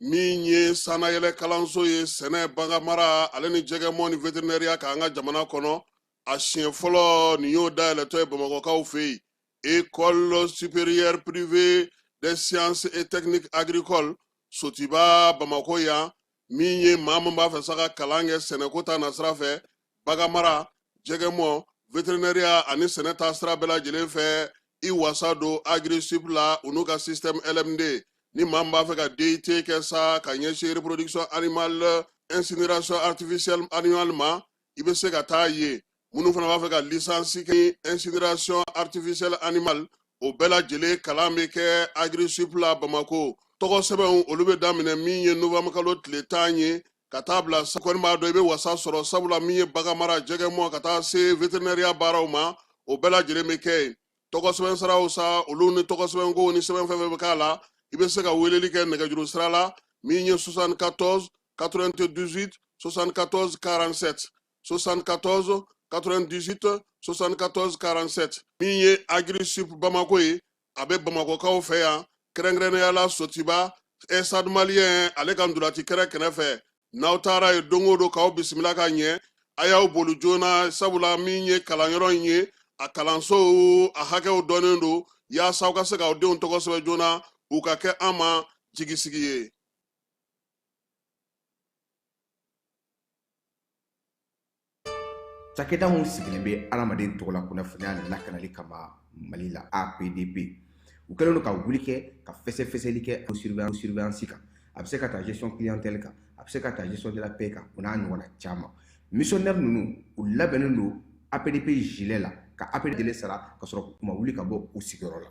min ye sanayɛlɛ kalanso ye sɛnɛ baganmara ale ni jɛgɛmɔ ni veterinɛriya k'an ka jamana kɔnɔ a siɲɛ fɔlɔ nin y'o dayɛlɛtɔ ye bamakɔkaw fɛ yen école supérieure privée des sciences et techniques agricoles sotiba bamakɔ yan min ye maa min b'a fɛ sa ka kalan kɛ sɛnɛko ta nasira fɛ baganmara jɛgɛmɔ veterinɛriya ani sɛnɛ ta sira bɛɛ lajɛlen fɛ i wasa don agri sup la u n'u ka système lmd ni maa min b'a fɛ ka DUT kɛ sa ka ɲɛsin reproduction animale incinération artificielle animale ma i bɛ se ka taa yen minnu fana b'a fɛ ka lisansi kɛ incinération artificielle animale o bɛɛ lajɛlen kalan bɛ kɛ agri sup la bamako tɔgɔ sɛbɛnw olu bɛ daminɛ min ye novembre kalo tile tan ye ka taa bila kɔni b'a dɔn i bɛ wasa sɔrɔ sabula min ye baganmara jɛgɛmɔ ka taa se veterinɛriya baaraw ma o bɛɛ lajɛlen bɛ kɛ yen tɔgɔ sɛbɛn siraw sa olu ni tɔgɔ sɛbɛn ko ni sɛbɛn fɛn fɛn bɛ k'a la i bɛ se ka weleli kɛ nɛgɛjuru sira la min ye 74 98 74 47 74 98 74 47 min ye agri sup bamako ye a bɛ bamakɔkaw fɛ yan kɛrɛnkɛrɛnnenya la sotiba stade malien ale ka ntolaci kɛrɛ kɛnɛ fɛ n'aw taara yen don o don k'aw bisimila ka ɲɛ a y'aw boli joona sabula min ye kalanyɔrɔ in ye a kalansow a hakɛw dɔnnen don yaasa aw ka se k'aw denw tɔgɔ sɛbɛn joona u ka kɛ an ma jigisigi ye cakɛda min sigilen bɛ adamaden tɔgɔla kunnafoniya lakanali kama mali la apdp u kɛlen don ka wuli kɛ ka fɛsɛfɛsɛli kɛ surveillance kan a bɛ se ka taa gestion clientèle kan a bɛ se ka taa gestion de la paie kan o n'a ɲɔgɔnna caman missionnaire ninnu u labɛnnen don apdp gilet la ka apdp sara ka sɔrɔ u ma wuli ka bɔ u sigiyɔrɔ la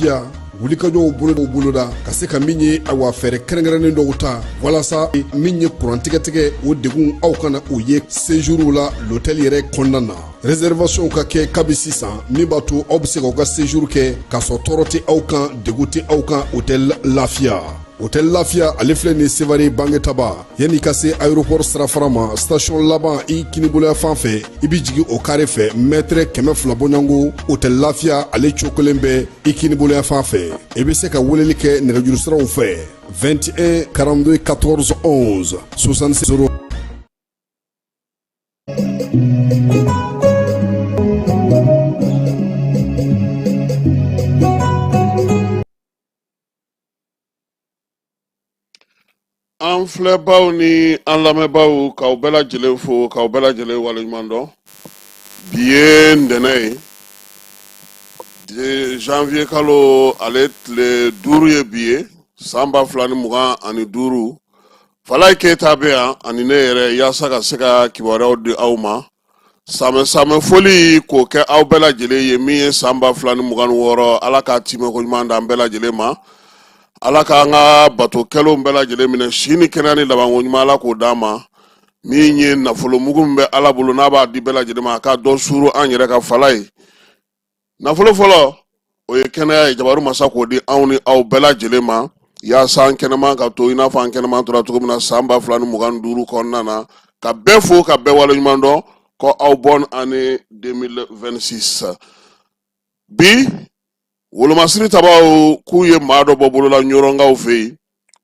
ya wulikajɔw bolo dɔw boloda ka se ka min ye awa fɛɛrɛ kɛrɛnkɛrɛnnen dɔw ta walasa min ye kurantigɛtigɛ o degun aw kana o ye séjourw la lotɛli yɛrɛ kɔnɔna na réservation ka kɛ kabi sisan min b'a to aw bɛ se k'aw ka séjour kɛ k'a sɔrɔ tɔɔrɔ tɛ aw kan degun tɛ aw kan hôtel lafiya hôtel lafiya ale filɛ nin sevare bangetaba yanni i ka se aéroport sirafara ma station laban i kiniboloya fan fɛ i bɛ jigin o kare fɛ mɛtɛrɛ kɛmɛ fila bɔɲɔgɔn hôtel lafiya ale cokolen bɛ i kiniboloya fan fɛ i bɛ se ka weleli kɛ nɛgɛjuru siraw fɛ 21 42 14 11 66 0 an filɛbaw ni an lamɛnbaw k'aw bɛɛ lajɛlen fo k'aw bɛɛ lajɛlen waleɲuman dɔn bi ye ntɛnɛn ye janvier kalo ale tile duuru ye bi ye san ba fila ni mugan ani duuru falayi keyita bɛ yan ani ne yɛrɛ yaasa ka se ka kibaruyaw di aw ma sanbɛ foli k'o kɛ aw bɛɛ lajɛlen ye min ye san ba fila ni mugan ni wɔɔrɔ ala k'a timɛko ɲuman d'an bɛɛ lajɛlen ma ala k'an ka bato kɛlenw bɛɛ lajɛlen minɛ si ni kɛnɛya ni labanko ɲuman ala k'o d'an ma min ye nafolomugu min bɛ ala bolo n'a b'a di bɛɛ lajɛlen ma a ka dɔ suuru an yɛrɛ kan falayi nafolo fɔlɔ o ye kɛnɛya ye jabaru masa k'o di anw ni aw bɛɛ lajɛlen ma yaasa an kɛnɛman ka to i n'a fɔ an kɛnɛman tora cogo min na san ba fila ni mugan ni duuru kɔnɔna na ka bɛɛ fo ka bɛɛ waleɲuman dɔn ko aw bonne année 2026 bi wolomasiri tabaw k'u ye maa dɔ bɔ bolola ɲɔrɔnkaw fɛ yen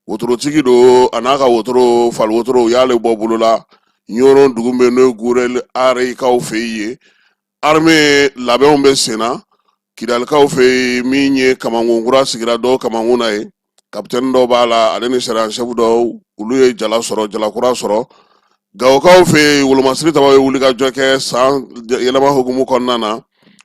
wotorotigi don a n'a ka wotoro fali wotoro u y'ale bɔ bolola ɲɔrɔn dugu bɛ n'o ye gurɛli areyikaw fɛ yen ye armée labɛnw bɛ sen na kidalikaw fɛ yen min ye kamankun kura sigira dɔw kamankun na ye kapitɛni dɔw b'a la ale ni sergent chef dɔw olu ye jala sɔrɔ jalakura sɔrɔ gawokaw fɛ yen wolomasiri tabaw ye wulikajɔ kɛ san yɛlɛma hukumu kɔnɔna na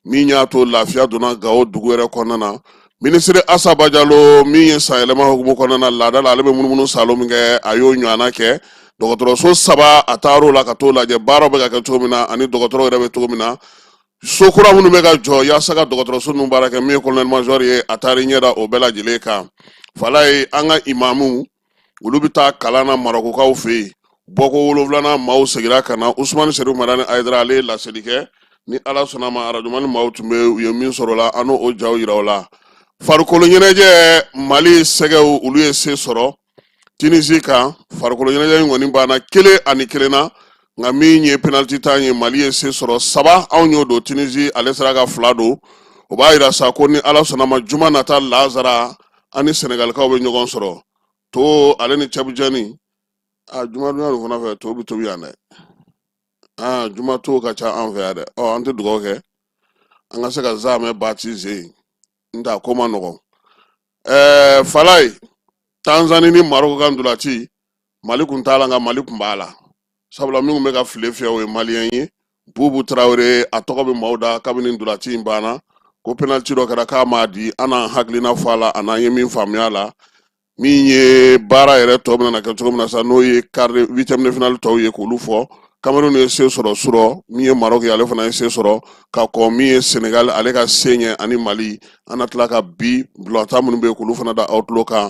min y'a to lafiya donna gawo dugu yɛrɛ kɔnɔna na minisiri asa bajalo min ye sanyɛlɛma hukumu kɔnɔna na laada la ale bɛ munumunu saalo min kɛ a y'o ɲɔgɔnna kɛ dɔgɔtɔrɔso saba a taar'o la ka t'o lajɛ baaraw bɛ ka kɛ cogo min na ani dɔgɔtɔrɔw yɛrɛ bɛ cogo min na so kura minnu bɛ ka jɔ yaasa ka dɔgɔtɔrɔso ninnu baara kɛ min ye colonel major ye a taar'i ɲɛ da o bɛɛ lajɛlen kan falayi an ka imamuw olu bɛ taa kalan na marokokaw fɛ yen bɔko wolonwulanan maaw segira ka na usumani serifu madani ayidara ale ye laseli kɛ ni ala sɔnna ma arajumani maaw tun bɛ u ye min sɔrɔ la an n'o jaw yira aw la farikolo ɲɛnajɛ mali sɛgɛw olu ye se sɔrɔ tinisi kan farikolo ɲɛnajɛ in kɔni banna kelen ani kelen na nka min ye penaliti tan ye mali ye se sɔrɔ saba anw y'o don tinisi ale sera ka fila don o b'a yira sa ko ni ala sɔnna ma juma nata laansara an ni sɛnɛgalikaw bɛ ɲɔgɔn sɔrɔ to ale ni cɛbujɛni a juma dunya nin fana fɛ to bɛ tobi yan dɛ aa juma to ka ca an fɛ yan dɛ ɔ an tɛ dugawu kɛ an ka se ka zaamɛ baptiser n t'a ko man nɔgɔn ɛɛ falayi tanzani ni maroko ka ntolaci mali kun t'a la nka mali kun b'a la sabula min tun bɛ ka file fiyɛ o ye maliyɛn ye bubu tarawele a tɔgɔ bɛ maaw da kabini ntolaci in banna ko penaliti dɔ kɛra k'a m'a di an n'an hakilina fɔ a la a n'an ye min faamuya a la min ye baara yɛrɛ tɔ bɛna na kɛ cogo min na sa n'o ye quart huitième de finale tɔw ye k'olu fɔ Cameroun ye se sɔrɔ surɔ min ye Maroc ye ale fana ye se sɔrɔ ka kɔn min ye Senegal ale ka se ɲɛ ani Mali an na tila ka bi balɔntan minnu bɛ yen k'olu fana da aw tulo kan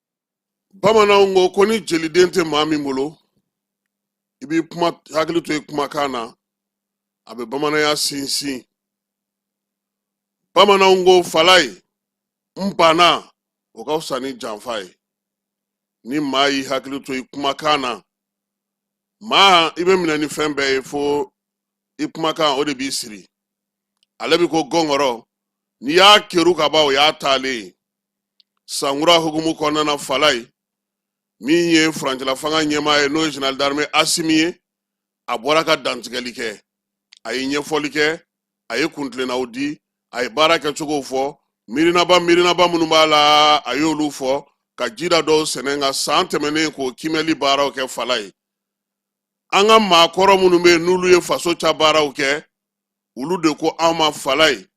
bamananw ko ko ni jeliden tɛ maa min bolo i b'i kuma hakili to i kumakan na a bɛ bamananya sinsin bamananw ko falaye n banna o ka fisa ni janfa ye ni maa y'i hakili to i kumakan na maa i bɛ minɛ ni fɛn bɛɛ ye fo i kumakan o de b'i siri ale bɛ ko gɔngɔrɔ n'i y'a keru ka ban o y'a taalen ye sankura hukumu kɔnɔna na falaye min ye furancɛla fanga ɲɛmaa ye n'o ye general d'armée asimi ye a bɔra ka dantigɛli kɛ a ye ɲɛfɔli kɛ a ye kuntilennaw di a ye baara kɛcogow fɔ miirinaba miirinaba minnu b'a la a y'olu fɔ ka jida dɔw sɛnɛ nka san tɛmɛnen k'o kiimɛli baaraw kɛ falaye an ka maakɔrɔ minnu bɛ yen n'olu ye faso ca baaraw kɛ olu de ko an ma falaye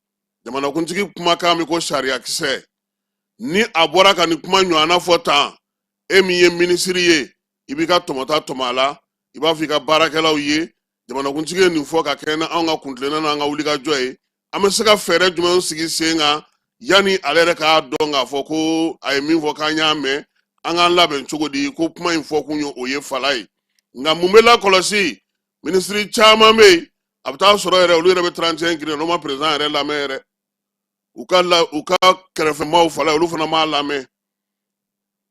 jamanakuntigi kumakan bɛ ko sariyakisɛ ni a bɔra ka nin kuma ɲɔgɔnna fɔ tan e min ye minisiri ye i b'i ka tɔmɔta tɔmɔ a la i b'a fɔ i ka baarakɛlaw ye jamanakuntigi ye nin fɔ ka kɛɲɛ ni anw ka kuntilenna n'an ka wulikajɔ ye an bɛ se ka fɛɛrɛ jumɛn sigi sen kan yanni ale yɛrɛ k'a dɔn k'a fɔ ko a ye min fɔ k'an y'a mɛn an k'an labɛn cogo di ko kuma in fɔ kun ye o ye falaye nka mun bɛ lakɔlɔsi minisiri caman bɛ yen a bɛ taa sɔrɔ yɛrɛ olu yɛrɛ bɛ trente et un grin na u ma perezidan yɛrɛ lamɛn yɛrɛ u ka kɛrɛfɛmaaw falaye olu fana m'a lamɛn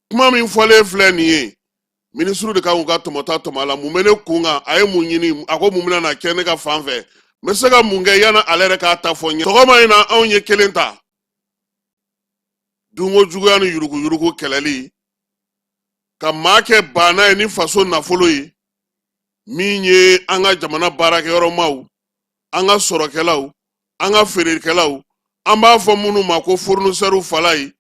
kuma min fɔlen filɛ nin ye minisiriw de kan k'u ka tɔmɔta tɔmɔ a la mun bɛ ne kun kan a ye mun ɲini a ko mun bɛna na kɛ ne ka fan fɛ n bɛ se ka mun kɛ yanni ale yɛrɛ k'a ta fɔ n ye sɔgɔma in na anw ye kelen ta dunko juguya ni yuruguyurugu kɛlɛli ka maa kɛ baana ye ni faso nafolo ye min ye an ka jamana baarakɛyɔrɔmaw an ka sɔrɔkɛlaw an ka feerekɛlaw an b'a fɔ minnu ma ko furunisɛriw falaye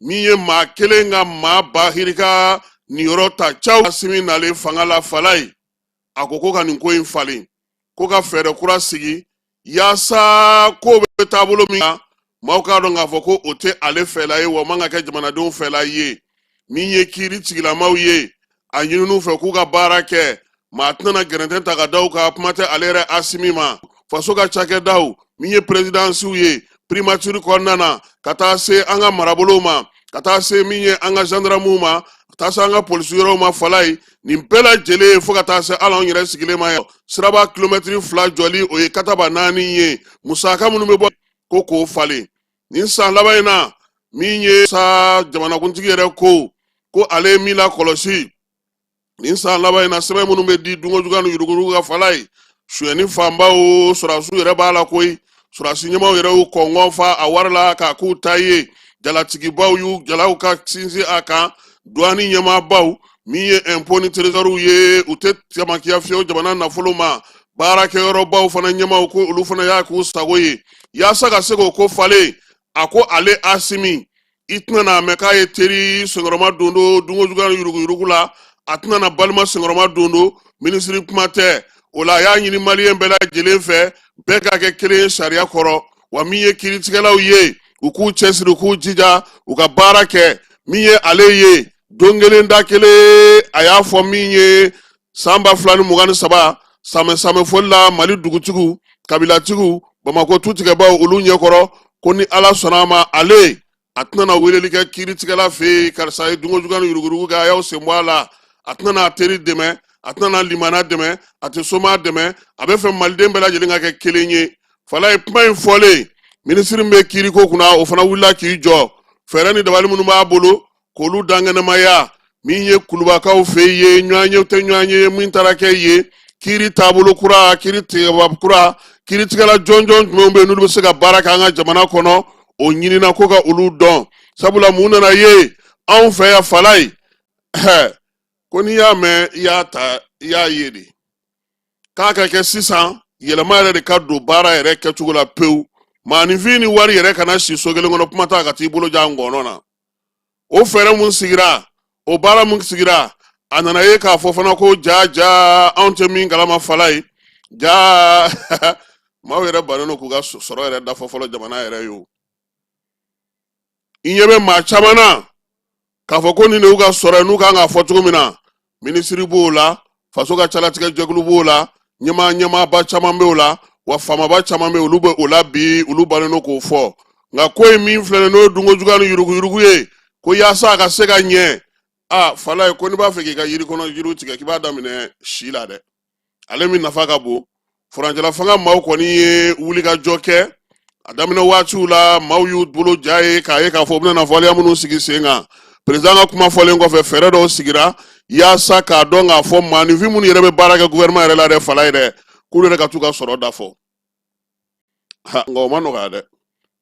min ye maa kelen ka maa ba hirika niyɔrɔ ta caw asimi nalen fanga la falaye a ko ko ka nin ko in falen ko ka fɛɛrɛ kura sigi yaasa ko bɛ taabolo min na maaw k'a dɔn k'a fɔ ko o tɛ ale fɛla ye wa man ka kɛ jamanadenw fɛla ye min ye kiiri tigilamaw ye a ɲinini u fɛ k'u ka baara kɛ maa tɛna gɛrɛntɛ ta ka da u kan kuma tɛ ale yɛrɛ asimi ma faso ka cakɛdaw min ye perezidansiw ye primatiri kɔnɔna na ka taa se an ka marabolow ma ka taa se min ye an ka zandaramuw ma ka taa se an ka polisi yɔrɔw ma falaye nin bɛɛ lajɛlen ye fo ka taa se hali anw yɛrɛ sigilen ma yan siraba kilomɛtiri fila jɔli o ye kataba naani ye musaka minnu bɛ bɔ ko k'o falen nin san laban in na min ye sa jamanakuntigi yɛrɛ ko ko ale ye min lakɔlɔsi nin san laban in na sɛbɛn minnu bɛ di dunkojuguya ni yuruguyurugu ka falayi sonyɛni fanba o sɔrɔdasiw yɛrɛ b'a la koyi sɔrɔdasi ɲɛmaw yɛrɛ y'u kɔngɔn fa a wari la k'a k'u ta ye jalatigibaw y'u jalaw ka sinsin a kan duwani ɲɛmaabaw min ye ɛnpo ni terezɔriw ye u tɛ sɛmakiya fiyewu jamana nafolo ma baarakɛyɔrɔbaw fana ɲɛmaw ko olu fana y'a k'u sago ye yaasa ka se k'o ko falen a ko ale asimi i tɛna n'a mɛn k'a ye teri senkɔrɔma dondon dunkojuguya yuruguyurugu la a tɛna na balima senkɔrɔma dondon minisiri kuma tɛ o la a y'a ɲini maliyɛn bɛɛ lajɛlen fɛ bɛɛ ka kɛ kelen ye sariya kɔrɔ wa min ye kiritigɛlaw ye u k'u cɛsiri u k'u jija u ka baara kɛ min ye ale ye don kelen da kelen a y'a fɔ min ye san ba fila ni mugan ni saba samɛ samɛ foli la mali dugutigiw kabilatigiw bamakɔ tutigɛbaw olu ɲɛkɔrɔ ko ni ala sɔnna a ma ale a tɛna na weleli kɛ kiiritigɛla fɛ yen karisa ye dunkojugu ni yurugurugu kɛ a y'aw sen bɔ a la a tɛna na teri dɛmɛ a tɛna na limaana dɛmɛ a tɛ somaa dɛmɛ a bɛ fɛ maliden bɛɛ lajɛlen ka kɛ kelen ye falayi kuma in fɔlen minisiri min bɛ kiiriko kunna o fana wulila k'i jɔ fɛɛrɛ ni dabali minnu b'a bolo k'olu dakɛnɛmaya min ye kulubakaw fɛ yen ɲɔgɔn ye tɛ ɲɔgɔn ye min taara kɛ ye kiri taabolo kura kiri tigɛba kura kiritigɛla jɔnjɔn jumɛnw bɛ n'olu bɛ se ka baara kɛ an ka jamana kɔnɔ o ɲinina ko ka olu dɔn sabula mun nana ye anw fɛ yan falayi ko n'i y'a mɛn i y'a ta i y'a ye de k'a ka kɛ sisan yɛlɛma yɛrɛ de ka don baara yɛrɛ kɛcogo la pewu maaninfin ni wari yɛrɛ kana si so kelen kɔnɔ kuma t'a ka t'i bolo ja ngɔnɔ na o fɛɛrɛ mun sigira o baara mun sigira a nana ye k'a fɔ fana ko jaa jaa anw tɛ min kalama falayi jaa maaw yɛrɛ bannen don k'u ka sɔrɔ yɛrɛ da fɔ fɔlɔ jamana yɛrɛ ye o i ɲɛ bɛ maa caman na k'a fɔ ko nin de y'u ka sɔrɔ ye n'u kan k'a fɔ cogo min na minisiri b'o la faso ka calatigɛ jɛkulu b'o la ɲɛma ɲɛmaaba caman b'o la wa faamaba caman bɛ olu bɛ o la bi olu bannen don k'o fɔ nka ko in min filɛ n'o ye dunko juguya ni yuruguyurugu ye ko yaasa a ka se ka ɲɛ a falayi ko n'i b'a fɛ k'i ka yiri kɔnɔ yiriw tigɛ k'i b'a daminɛ si la dɛ ale min nafa ka bon furancɛla fanga maaw kɔni ye wulikajɔ kɛ a daminɛ waatiw la maaw y'u bolo ja ye k'a ye k'a fɔ u bɛna nafɔliya minnu sigi sen kan perezidan ka kuma fɔlen kɔfɛ fɛɛrɛ dɔw sigira yaasa k'a dɔn k'a fɔ maaninfin minnu yɛrɛ bɛ baara kɛ guvɛrɛnman yɛrɛ la dɛ falayi dɛ k'olu yɛrɛ ka t'u ka sɔrɔ da fɔ nka o ma nɔgɔya dɛ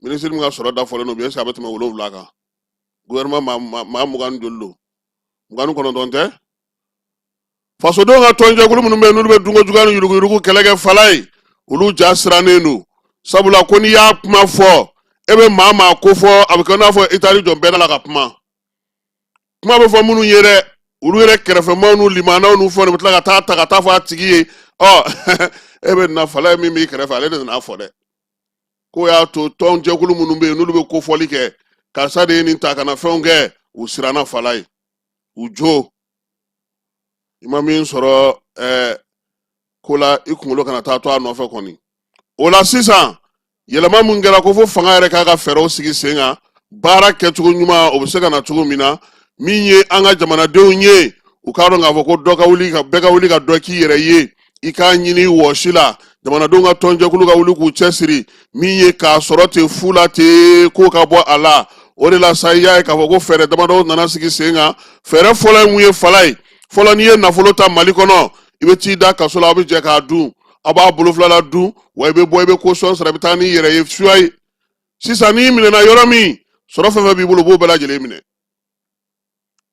minisiri min ka sɔrɔ da fɔlen don bi ɛseke a bɛ tɛmɛ wolonwula kan guvɛrɛnman maa mugan ni joli don mugan ni kɔnɔntɔn tɛ fasodenw ka tɔnjɛkulu minnu bɛ yen n'olu bɛ dunko juguya ni yuruguyurugu kɛlɛ kɛ falayi olu ja sirannen don sabula ko n'i y'a kuma fɔ e bɛ maa maa ko fɔ a bɛ kɛ i n'a fɔ i taar'i jɔ bɛɛ la ka kuma kuma bɛ fɔ minnu ye dɛ olu yɛrɛ kɛrɛfɛmaw n'u limanaw n'u fɛnw de bɛ tila ka taa ta ka taa fɔ a tigi ye ɔ e bɛ na falayi min b'i kɛrɛfɛ ale de nan'a fɔ dɛ k'o y'a to tɔnjɛkulu minnu bɛ yen n'olu bɛ kofɔli kɛ karisa de ye nin ta ka na fɛnw kɛ u siranna falayi u jo i ma min sɔrɔ ɛɛ eh, ko la i kunkolo kana taa to a nɔfɛ kɔni o la sisan yɛlɛma min kɛra ko fo fanga yɛrɛ k'a ka fɛɛrɛw sigi sen kan baara kɛcogo ɲuman o bɛ se ka na cogo min na min ye an ka jamanadenw ye u k'a dɔn k'a fɔ ko dɔ ka wuli ka bɛɛ ka wuli ka dɔ k'i yɛrɛ ye i k'a ɲini wɔsi la jamanadenw ka tɔnjɛkulu ka wuli k'u cɛsiri min ye k'a sɔrɔ ten fu la ten k'o ka bɔ a la o de la sa i y'a ye k'a fɔ ko fɛɛrɛ damadɔw nana sigi sen kan fɛɛrɛ fɔlɔ ye mun ye falayi fɔlɔ n'i ye nafolo ta mali kɔnɔ i bɛ t'i da kaso la aw bɛ jɛ k'a dun aw b'a bolo fila la dun wa i bɛ bɔ i bɛ caution sara i bɛ taa n'i yɛrɛ ye suya ye sisan n'i minɛna yɔrɔ min sɔrɔ fɛn fɛn b'i bolo u b'o bɛɛ lajɛlen minɛ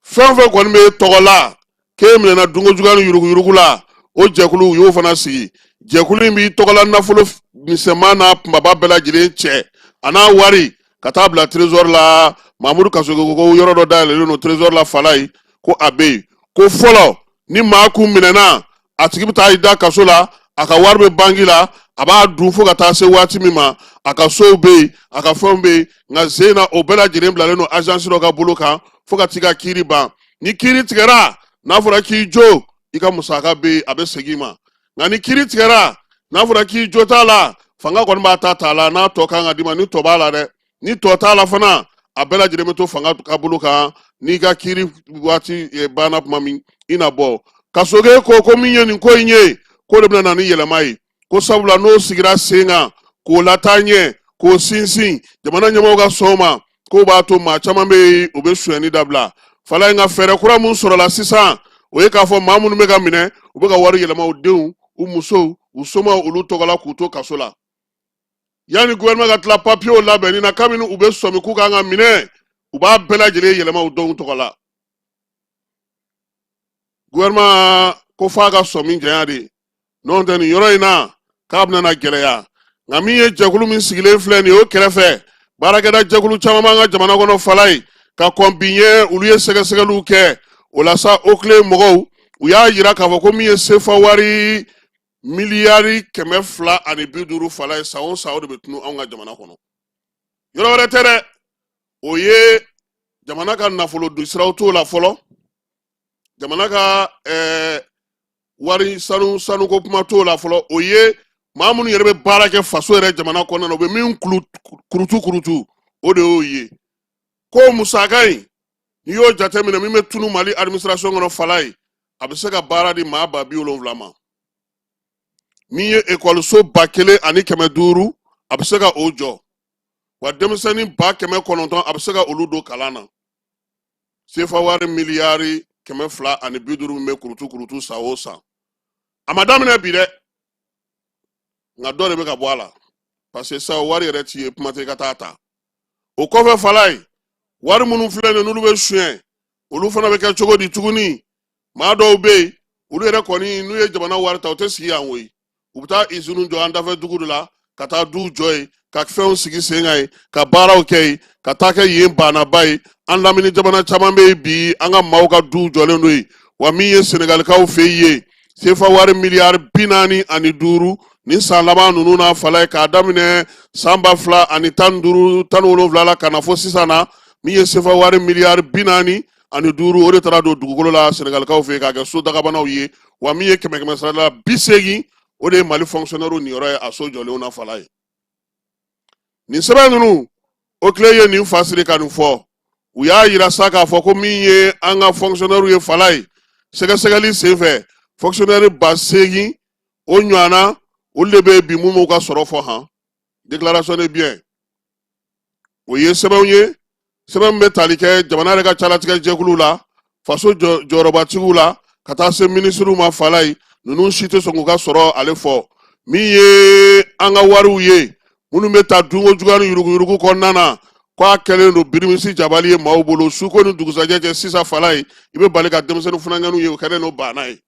fɛn fɛn kɔni b'e tɔgɔ la k'e minɛna dunko juguya ni yuruguyurugu la o jɛkulu u y'o fana sigi jɛkulu in b'i tɔgɔla nafolo misɛnman n'a kunbaba bɛɛ lajɛlen cɛ an'a wari ka taa bila trésor la mamudu kasoge ko yɔrɔ dɔ dayɛlɛlen don trésor la falayi ko a bɛ yen ko fɔlɔ ni maa kun minɛna a tigi bɛ taa i da kaso la a ka wari bɛ banki la a b'a dun fo ka taa se waati min ma a ka sow bɛ yen a ka fɛnw bɛ yen nka sen in na o bɛɛ lajɛlen bilalen don azansi dɔ ka bolo kan fo ka t'i ka kiiri ban ni kiiri tigɛra n'a fɔra k'i jo i ka musaka bɛ yen a bɛ segin i ma nka ni kiiri tigɛra n'a fɔra k'i jo t'a la fanga kɔni b'a ta t'a la n'a tɔ kan ka d'i ma ni tɔ b'a la dɛ ni tɔ t'a la fana a bɛɛ lajɛlen bɛ to fanga ka bolo kan n'i ka kiiri waati eh, banna tuma min i na bɔ kasoge ko ko min ye nin ko in ye ko de bɛna na ni yɛlɛma ye ko sabula n'o sigira sen kan k'o lataa ɲɛ k'o sinsin jamana ɲɛmɔgɔw ka sɔn o ma k'o b'a to maa caman bɛ yen u bɛ sonyɛni dabila falayi nka fɛɛrɛ kura min sɔrɔla sisan o ye k'a fɔ maa minnu bɛ ka minɛ u bɛ ka wari yɛlɛma u denw u musow u somaw olu tɔgɔ la k'u to kaso la yanni gouvernement ka tila papiyew labɛnni na kabini u bɛ sɔmi k'u kan ka minɛ u b'a bɛɛ lajɛlen yɛlɛma u denw tɔgɔ la gouvernement ko f'a ka sɔmi janya de n'o tɛ nin yɔrɔ in na k'a bɛna na gɛlɛya nka min ye jɛkulu min sigilen filɛ nin ye o kɛrɛfɛ baarakɛda jɛkulu caman b'an ka jamana kɔnɔ falayi ka kɔn bi ɲɛ olu ye sɛgɛsɛgɛliw kɛ o la sa oclei mɔgɔw u y'a yira k'a fɔ ko min ye sefa wari miliyari kɛmɛ fila ani bi duuru falayi san o san o de bɛ tunu anw ka jamana kɔnɔ yɔrɔ wɛrɛ tɛ dɛ o ye jamana ka nafolo don siraw t'o la fɔlɔ jamana ka ɛɛ eh, wari sanu sanuko kuma t'o la fɔlɔ o ye maa minnu yɛrɛ bɛ baara kɛ faso yɛrɛ jamana kɔnɔna na u bɛ min kurutu kurutu o de y'o ye ko musaka in n'i y'o jateminɛ min bɛ tunu mali administration kɔnɔ falayi a bɛ se ka baara di maa ba bi wolonwula ma min ye ekɔliso ba kelen ani kɛmɛ duuru a bɛ se ka o jɔ wa denmisɛnnin ba kɛmɛ kɔnɔntɔn a bɛ se ka olu don kalan na sefa wari miliyari kɛmɛ fila ani bi duuru min bɛ kurutu kurutu san o san a ma daminɛ bi dɛ nka dɔ de bɛ ka bɔ a la parce que sa wari yɛrɛ tɛ ye kuma tɛ i ka taa ta o kɔfɛ falayi wari minnu filɛ nin n'olu bɛ suɲɛ olu fana bɛ kɛ cogo di tuguni maa dɔw bɛ yen olu yɛrɛ kɔni n'u ye jamana wari ta u tɛ sigi yan koyi u bɛ taa iziniw jɔ an dafɛ dugu de la ka taa duw jɔ yen ka fɛnw sigi sen kan yen ka baaraw kɛ yen ka taa kɛ yen baanaba ye an lamini jamana caman bɛ yen bi an ka maaw ka duw jɔlen don yen wa min ye senegalikaw fɛ yen sefa wari miliyari bi naani ani duuru nin san laban ninnu na falayi k'a daminɛ san ba fila ani tan duuru tan wolonwula la ka na fo sisan na min ye sefa wari miliyari bi naani ani duuru o de taara don dugukolo la senegalikaw fɛ k'a kɛ so dagabanaw ye wa min ye kɛmɛ kɛmɛ sara la bi seegin o de ye mali fɔnkisɔnɛriw niyɔrɔ ye a so jɔlenw na falayi nin sɛbɛn ninnu oclei ye nin fasiri ka nin fɔ u y'a yira sa k'a fɔ ko min ye an ka fɔnkisɔnɛriw ye falayi sɛgɛsɛgɛli senfɛ fɔnkisɔnɛri ba seegin o ɲɔgɔnna olu de bɛ bi mun m'u ka sɔrɔ fɔ han déclaration de bien o ye sɛbɛnw ye sɛbɛn min bɛ tali kɛ jamana yɛrɛ ka calatigɛ jɛkulu la faso jɔyɔrɔbatigiw la ka taa se minisiriw ma falayi ninnu si tɛ sɔn k'u ka sɔrɔ ale fɔ min ye an ka wariw ye minnu bɛ ta dunko juguya ni yuruguyurugu kɔnɔna na k'a kɛlen don birimisi jabali ye maaw bolo suko ni dugusajɛ cɛ sisan falayi i bɛ bali ka denmisɛnnin funankɛninw ye o kɛlen don baana ye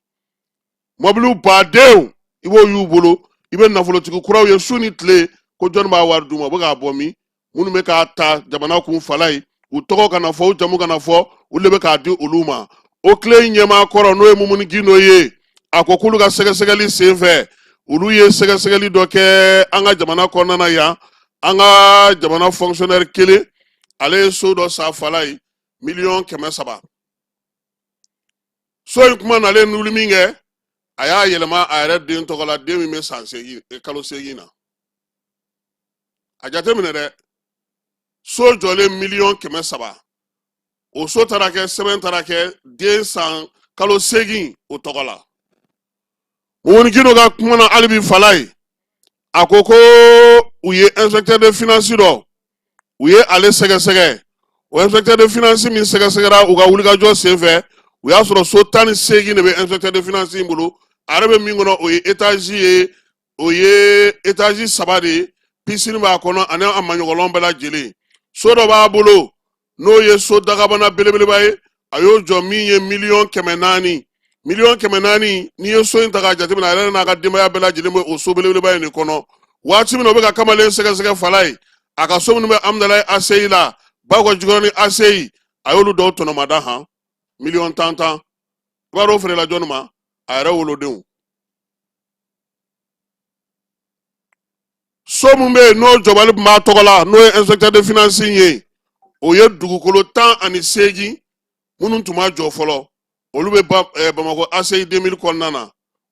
mɔbiliw badenw i b'o y'u bolo i bɛ nafolotigi kuraw ye su ni tile ko jɔnni b'a wari d'u ma u bɛ k'a bɔ min minnu bɛ k'a ta jamana kun falayi u tɔgɔ kana fɔ u jamu kana fɔ u de bɛ k'a di olu ma oclei ɲɛmaa kɔrɔ n'o ye mumuni gindo ye a ko k'olu ka sɛgɛsɛgɛli sen fɛ olu ye sɛgɛsɛgɛli dɔ kɛ an ka jamana kɔnɔna na yan an ka jamana fonctionnaire kelen ale ye so dɔ san falayi miliyɔn kɛmɛ saba so in kuma nalen n'olu minkɛ a y'a yɛlɛma a yɛrɛ den tɔgɔ la den min bɛ san seegin kalo seegin na a jateminɛ dɛ so jɔlen miliyɔn kɛmɛ saba o so taara kɛ sɛbɛn taara kɛ den san kalo seegin o tɔgɔ la mumuni gindo ka kuma na hali bi falayi a ko ko u ye inspecteur de finance dɔ u ye ale sɛgɛsɛgɛ o inspecteur de finance min sɛgɛsɛgɛra u ka wulikajɔ senfɛ u y'a sɔrɔ so tan ni seegin de bɛ inspecteur de finance in bolo a yɛrɛ bɛ min kɔnɔ o ye etazi ye o ye etazi saba de ye pisini b'a kɔnɔ ani a maɲɔgɔnlɔn bɛɛ lajɛlen so dɔ b'a bolo n'o ye so dagabana belebeleba ye a y'o jɔ min ye miliyɔn kɛmɛ naani miliyɔn kɛmɛ naani n'i ye so in ta k'a jateminɛ a yɛrɛ n'a ka denbaya bɛɛ lajɛlen bɛ o so belebeleba in de kɔnɔ waati min na u bɛ ka kamalen sɛgɛsɛgɛ falayi a ka so minnu bɛ amudalayi aseyi la bakɔ jikɔrɔni aseyi a y'olu dɔw tɔnɔmada han miliyɔn tan tan i b'a dɔn o feerela jɔnni ma a yɛrɛ wolodenw so min bɛ yen n'o jɔbali tun b'a tɔgɔ la n'o ye inspecteur de finance ye o ye dugukolo tan ani seegin minnu tun ma jɔ fɔlɔ olu bɛ eh, bamakɔ ACI 2000 kɔnɔna na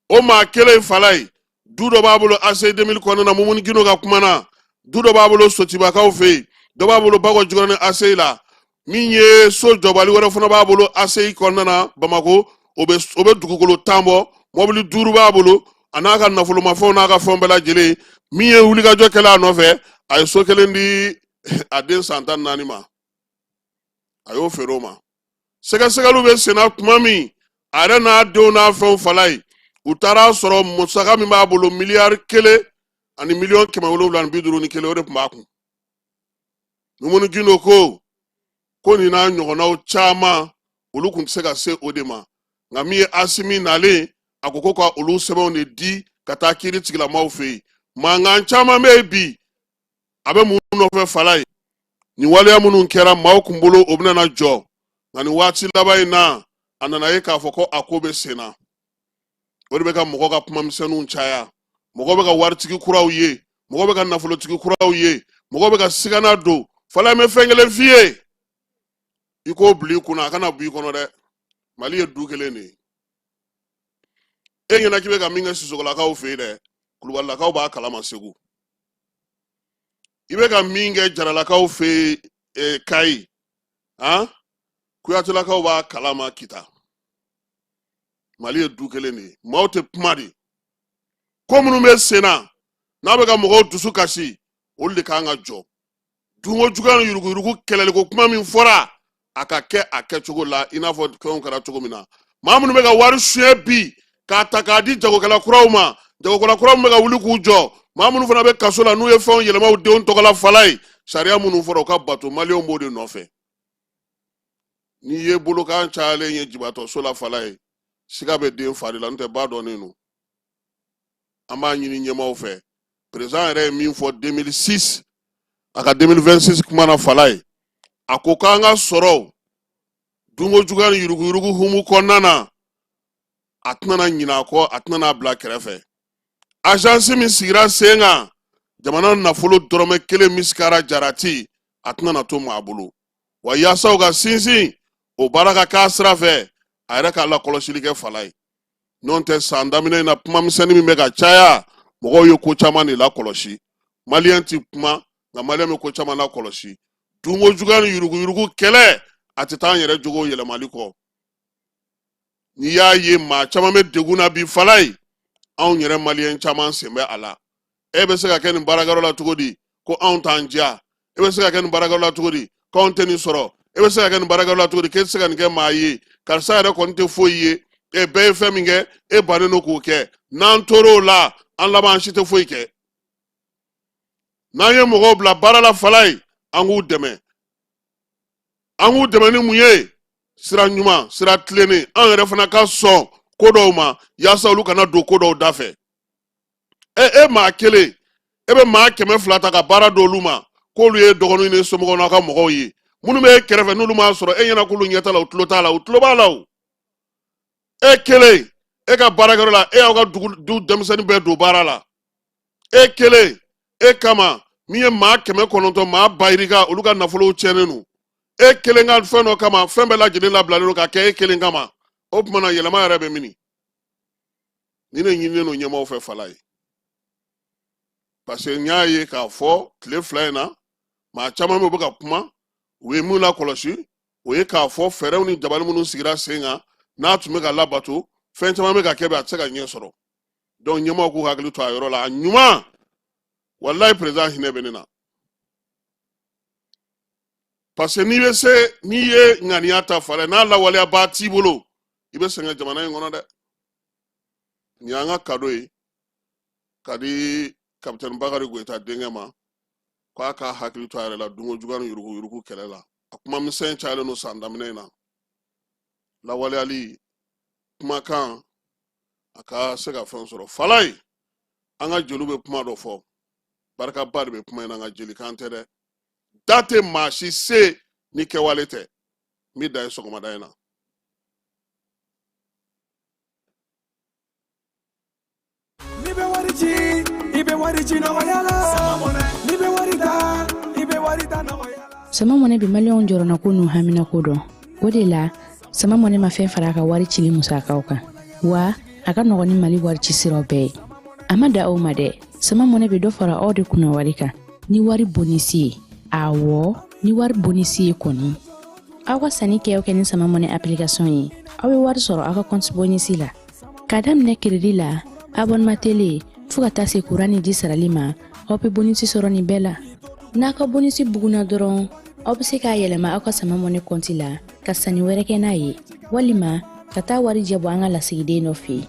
o maa kelen in Falayi du dɔ b'a bolo ACI 2000 kɔnɔna na Mumuni Gindo ka kuma na du dɔ b'a bolo Sotibakaw fɛ yen dɔ b'a bolo Bakɔ Jikɔrɔni ACI la min ye so jɔbali wɛrɛ fana b'a bolo aseyi kɔnɔna na bamako o bɛ dugukolo tan bɔ mɔbili duuru b'a bolo a n'a ka nafolomafɛnw n'a ka fɛnw bɛɛ lajɛlen min ye wulikajɔ kɛla a nɔfɛ a ye so kelen di a den san tan naani ma a y'o feere o ma sɛgɛsɛgɛliw bɛ senna tuma min a yɛrɛ n'a denw n'a fɛnw falayi u taara a sɔrɔ musaka min b'a bolo miliyari kelen ani miliyɔn kɛmɛ wolonwula ni bi duuru ni kelen o de tun b'a kun mumuni gindo ko ko nin n'a ɲɔgɔnnaw caman olu tun tɛ se ka se o de ma nka min ye asimi nalen a ko ko ka olu sɛbɛnw de di ka taa kiri tigilamaw fɛ yen mankan caman bɛ yen bi a bɛ mun nɔfɛ falayi nin waleya minnu kɛra maaw kun bolo o bɛna jɔ nka nin waati laban in na a nana ye k'a fɔ ko a ko bɛ senna o de bɛ ka mɔgɔ ka kuma misɛnninw caya mɔgɔ bɛ ka waritigi kuraw ye mɔgɔ bɛ ka nafolotigi kuraw ye mɔgɔ bɛ ka sigana don falayi n bɛ fɛn kelen f'i ye i k'o bila i kunna a kana b'i kɔnɔ dɛ mali ye du kelen de ye e ɲɛna k'i bɛ ka min kɛ sisɔkɔlakaw fɛ yen dɛ kulubalilakaw b'a kalama segu i bɛ ka min kɛ jaralakaw fɛ yen eh, kayi han kuyatelakaw b'a kalama kita mali ye du kelen de ye maaw tɛ kuma de ko minnu bɛ sen na n'a bɛ ka mɔgɔw dusu kasi olu de kan ka jɔ dunko juguya ni yuruguyurugu kɛlɛliko kuma min fɔra a ka kɛ a kɛcogo la i n'a fɔ fɛnw kɛra cogo min na maa minnu bɛ ka wari suɲɛ bi k'a ta k'a di jagokɛla kuraw ma jagokɛla kuraw min bɛ ka wuli k'u jɔ maa minnu fana bɛ kaso la n'u ye fɛnw yɛlɛma u denw tɔgɔ la fala ye sariya minnu fɔra u ka bato maliyɛnw b'o de nɔfɛ n'i ye bolokan cayalen ye jibatɔso la fala ye siga bɛ den fa de la n'o tɛ ba dɔnnen don an b'a ɲini ɲɛmaaw fɛ perezan yɛrɛ ye min fɔ 2006 a ka 2026 kuma na fala ye a ko k'an ka sɔrɔw dunko juguya ni yuruguyurugu humu kɔnɔna na a tɛna ɲinɛ a kɔ a tɛna a bila kɛrɛfɛ azansi min sigira sen kan jamana nafolo dɔrɔmɛ kelen misikara jarati a tɛna na to maa bolo wa yaasa u ka sinsin o baara ka k'a sira fɛ a yɛrɛ ka lakɔlɔsili kɛ fala ye n'o tɛ san daminɛ in na kuma misɛnnin min bɛ ka caya mɔgɔw ye ko caman de lakɔlɔsi maliyɛn ti kuma nka maliyɛn bɛ ko caman lakɔlɔsi dunko juguya ni yuruguyurugu kɛlɛ a tɛ taa an yɛrɛ jogo yɛlɛmali kɔ n'i y'a ye maa caman bɛ degun na bi fala ye anw yɛrɛ maliyɛn caman sen bɛ a la e bɛ se ka kɛ nin baarakɛyɔrɔ la cogo di ko anw t'an diya e bɛ se ka kɛ nin baarakɛyɔrɔ la cogo di ko anw tɛ nin sɔrɔ e bɛ se ka kɛ nin baarakɛyɔrɔ la cogo di k'e tɛ se ka nin kɛ maa ye karisa yɛrɛ kɔni tɛ foyi ye e bɛɛ ye fɛn min kɛ e bannen don k'o kɛ n'an tor'o la an laban an si tɛ foyi kɛ n'an ye mɔgɔw bila baara la fala ye an k'u dɛmɛ an k'u dɛmɛ ni mun ye sira ɲuman sira tilennen an yɛrɛ fana ka sɔn ko dɔw ma yaasa olu kana don ko dɔw da fɛ e e maa kelen e bɛ maa kɛmɛ fila ta ka baara di olu ma k'olu ye dɔgɔninw ni somɔgɔw n'a ka mɔgɔw ye minnu bɛ e kɛrɛfɛ n'olu m'a sɔrɔ e ɲɛna k'olu ɲɛ t'a la u tulo t'a la u tulo b'a la o e kelen e ka baarakɛyɔrɔ la e y'aw ka dugu du denmisɛnnin bɛɛ don baara la e kelen e kama min ye maa kɛmɛ kɔnɔntɔn maa bayirika olu ka nafolow tiɲɛnen don e kelen ka fɛn dɔ kama fɛn bɛɛ lajɛlen labilalen don ka kɛ e kelen kama o tuma na yɛlɛma yɛrɛ bɛ mini nin de ɲininen don ɲɛmɔgɔw fɛ fala ye parce que n y'a ye k'a fɔ tile fila in na maa caman bɛ u bɛ ka kuma u ye min lakɔlɔsi o ye k'a fɔ fɛɛrɛw ni dabali minnu sigira sen kan n'a tun bɛ ka labato fɛn caman bɛ ka kɛ bi a tɛ se ka ɲɛ sɔrɔ donc ɲɛmaaw k'u hakili to a yɔrɔ la a ɲuman walayi président hinɛ bɛ ne na parce que n'i bɛ se n'i ye ŋaniya ta fala n'a lawaleyabaa t'i bolo i bɛ sɛgɛn jamana in kɔnɔ dɛ nin y'an ka kado ye ka di kapitɛni bakari goyita denkɛ ma k'a ka hakili to a yɛrɛ la dunko juguya ni yuruguyurugu kɛlɛ la a kuma misɛn cayalen don san daminɛ in na lawaleyali kumakan a ka se ka fɛn sɔrɔ fala ye an ka jeliw bɛ kuma dɔ fɔ barikaba de bɛ kuma in na nka jelikan tɛ dɛ da tɛ maa si se ni kɛwale tɛ min da ye sɔgɔmada in na N'i bɛ wari ci i bɛ wari ci nɔgɔya la n'i bɛ wari ta i bɛ wari ta nɔgɔya la. sama mɔnɛ bɛ maliyɛnw jɔrɔnako n'u haminako dɔn o de la sama mɔnɛ ma fɛn fara a ka wari cili musakaw kan wa a ka nɔgɔn ni mali wari ci siraw bɛɛ ye a ma dan o ma dɛ sama mɔnɛ bɛ dɔ fara aw de kunna wari kan ni wari bonisi ye awɔ ni wari bonisi ye kɔni aw ka sanni kɛ o kɛ ni sama mɔnɛ application ye aw bɛ wari sɔrɔ aw ka kɔnti bonisi la k'a daminɛ kiridi la abonema tele fɔɔ ka taa se kuran ni ji sarali ma aw bɛ bonisi sɔrɔ nin bɛɛ la n'aw ka bonisi bugunna dɔrɔn aw bɛ se k'a yɛlɛma aw ka sama mɔnɛ kɔnti la ka sanni wɛrɛ kɛ n'a ye walima ka taa wari jɛ bɔ an ka lasigiden dɔ fɛ yen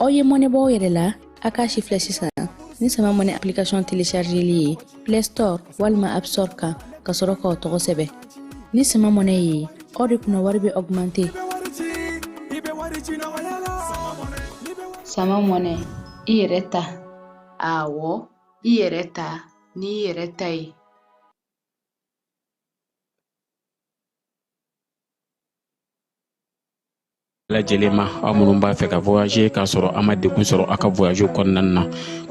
aw ye mɔnɛ bɔ aw yɛrɛ la a k'a sifilɛ sisan ni sama mɔnɛ application téléchargeli ye play store walima app store kan ka sɔrɔ k'aw tɔgɔ sɛbɛn ni sama mɔnɛ ye aw de kunna wari bɛ augmenter sama mɔnɛ i yɛrɛ ta awɔ i yɛrɛ ta ni i yɛrɛ ta ye lajɛlen ma aw minnu b'a fɛ ka voyager k'a sɔrɔ a ma degun sɔrɔ a ka voyage kɔnɔna na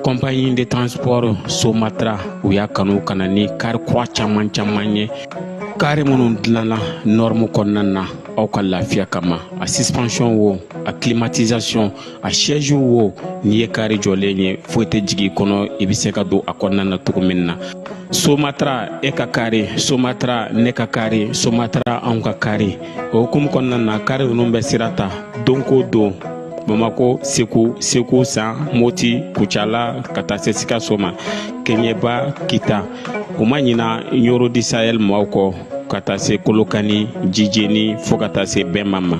compagnie de transport somatra u y'a kanu ka na ni kari kura caman caman ye kari minnu dilanna nɔrɔmu kɔnɔna na aw ka lafiya kama a suspension wo a climatisation a siège wo n'i ye kari jɔlen ye foyi tɛ jigin kɔnɔ i bɛ se ka don a kɔnɔna na cogo min na somatra e ka kari somatra ne ka kari somatra anw ka kari o hukumu kɔnɔna na kari ninnu bɛ sira ta don ko don bamako segu segu san moti kucala ka taa se sikaso ma keɲɛba kita u ma ɲina ɲoro di sahɛl maaw kɔ ka taa se kolokani jijeni fɔɔ ka taa se bema ma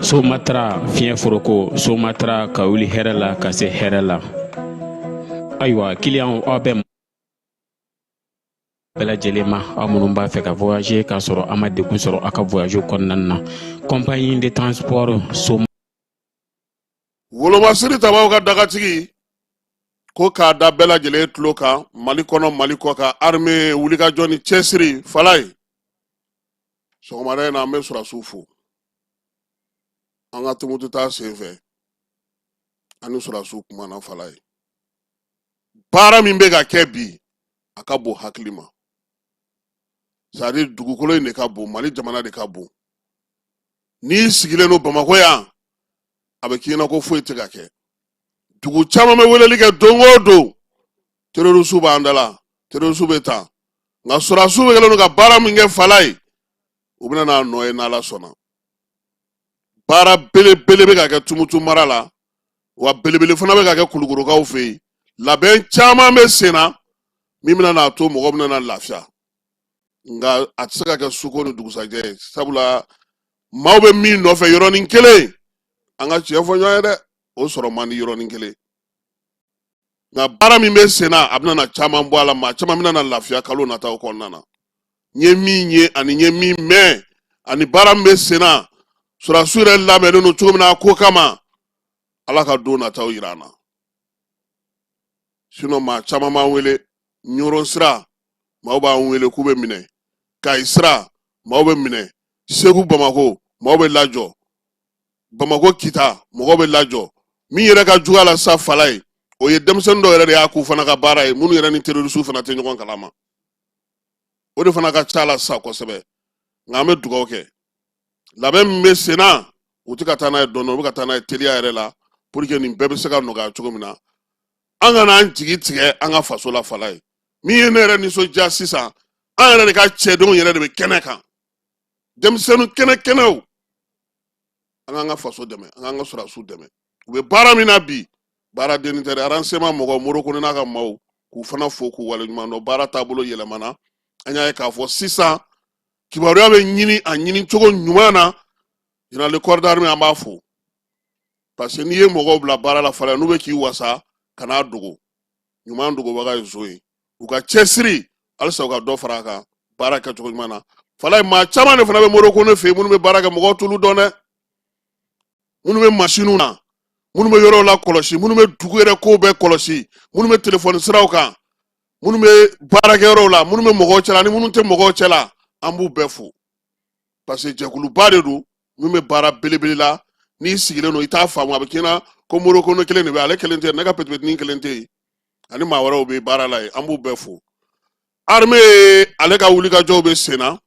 somatra fiɲɛ foroko somatra ka wuli hɛrɛ la ka se hɛrɛ la ayiwa kiliyanw aw bɛ bɛɛ lajɛlen ma aw minnu b'a fɛ ka voyager k'a sɔrɔ a ma degun sɔrɔ a ka voyage kɔnɔna na compagnie de transport so wolomasiri tabaw ka dagatigi ko k'a da bɛɛ lajɛlen tulo kan mali kɔnɔ mali kɔkan arme wulikajɔ ni cɛsiri falaye sɔgɔmada in na an bɛ sɔrɔdasiw fo an ka tumutu taa sen fɛ ani sɔrɔdasiw kumana falaye baara min bɛ ka kɛ bi a ka bon hakili ma c'est-à-dire dugukolo in de ka bon mali jamana de ka bon n'i sigilen don bamakɔ yan a bɛ k'i ɲɛ na ko foyi tɛ ka kɛ dugu caman bɛ weleli kɛ don o don terroristes b'an da la terroristes bɛ taa nka sɔrɔdasiw bɛ kɛlen don ka baara min kɛ falaye u bɛna n'a nɔ ye n'ala sɔnna baara belebele bɛ ka kɛ tumutu mara la wa belebele fana bɛ ka kɛ kulukorokaw fɛ yen labɛn caman bɛ sen na min bɛna n'a to mɔgɔ bɛna na lafiya nka a tɛ se ka kɛ suko ni dugusajɛ ye sabula maaw bɛ min nɔfɛ yɔrɔnin kelen an ka tiɲɛ fɔ ɲɔgɔn ye dɛ o sɔrɔ man di yɔrɔnin kelen nka baara min bɛ sen na a bɛna na caman bɔ a la maa caman bɛna na lafiya kalo nataw kɔnɔna na n ye min ye ani n ye min mɛn ani baara min bɛ sen na sɔrɔdasi yɛrɛ labɛnnen don cogo min na a ko kama ala ka don nataw yira an na sinon maa caman b'an wele ɲɔrɔn sira maaw b'an wele k'u bɛ minɛ kayi sira maaw bɛ minɛ segu bamako maaw bɛ lajɔ bamako kita mɔgɔw bɛ lajɔ min yɛrɛ ka jugu a la sa falaye o ye denmisɛnnin dɔw yɛrɛ de y'a k'u fana ka baara ye minnu yɛrɛ ni terorisiw fana tɛ ɲɔgɔn kalama o de fana ka ca la sa kosɛbɛ nka an bɛ dugawu kɛ labɛn min bɛ sen na u tɛ ka taa n'a ye dɔɔnin u bɛ ka taa n'a ye teliya yɛrɛ la pour que nin bɛɛ bɛ se ka nɔgɔya cogo min na an kana an jigi tigɛ an ka faso la falaye min ye ne yɛrɛ nisɔndiya sisan an yɛrɛ de ka cɛdenw yɛrɛ de bɛ kɛnɛ kan denmisɛnnin kɛnɛkɛnɛw an k'an ka faso dɛmɛ an k'an ka sɔrɔdasiw dɛmɛ u bɛ baara min na bi baara dennin tɛ dɛ renseignement mɔgɔw modibo kɔnɛ n'a ka maaw k'u fana fo k'u waleɲuman dɔn baara taabolo yɛlɛmana an y'a ye k'a fɔ sisan kibaruya bɛ ɲini a ɲini cogo ɲuman na général de corps d'armée an b'a fo parce que n'i ye mɔgɔw bila baara la fana n'u bɛ k'i wasa kan'a dogo ɲuman dogobaga ye zon ye u ka cɛsiri halisa u ka dɔ fara a kan baara kɛcogo ɲuman na falaye maa caman de fana bɛ modibo kɔnɛ fɛ yen minnu bɛ baara kɛ mɔgɔw t'olu dɔn dɛ minnu bɛ masiniw na minnu bɛ yɔrɔw lakɔlɔsi minnu bɛ dugu yɛrɛ kow bɛɛ kɔlɔsi minnu bɛ telefɔni siraw kan minnu bɛ baarakɛyɔrɔw la minnu bɛ mɔgɔw cɛla ni minnu tɛ mɔgɔw cɛla an b'u bɛɛ fo parce que jɛkuluba de don min bɛ baara belebele la n'i sigilen don i t'a faamu a bɛ k'i ɲɛna ko morokono kelen de bɛ ale kelen tɛ ne ka petipetinin kelen tɛ yen ani maa wɛrɛw bɛ baara la yen an b'u bɛɛ fo arime ale ka wulikajɔw bɛ sen na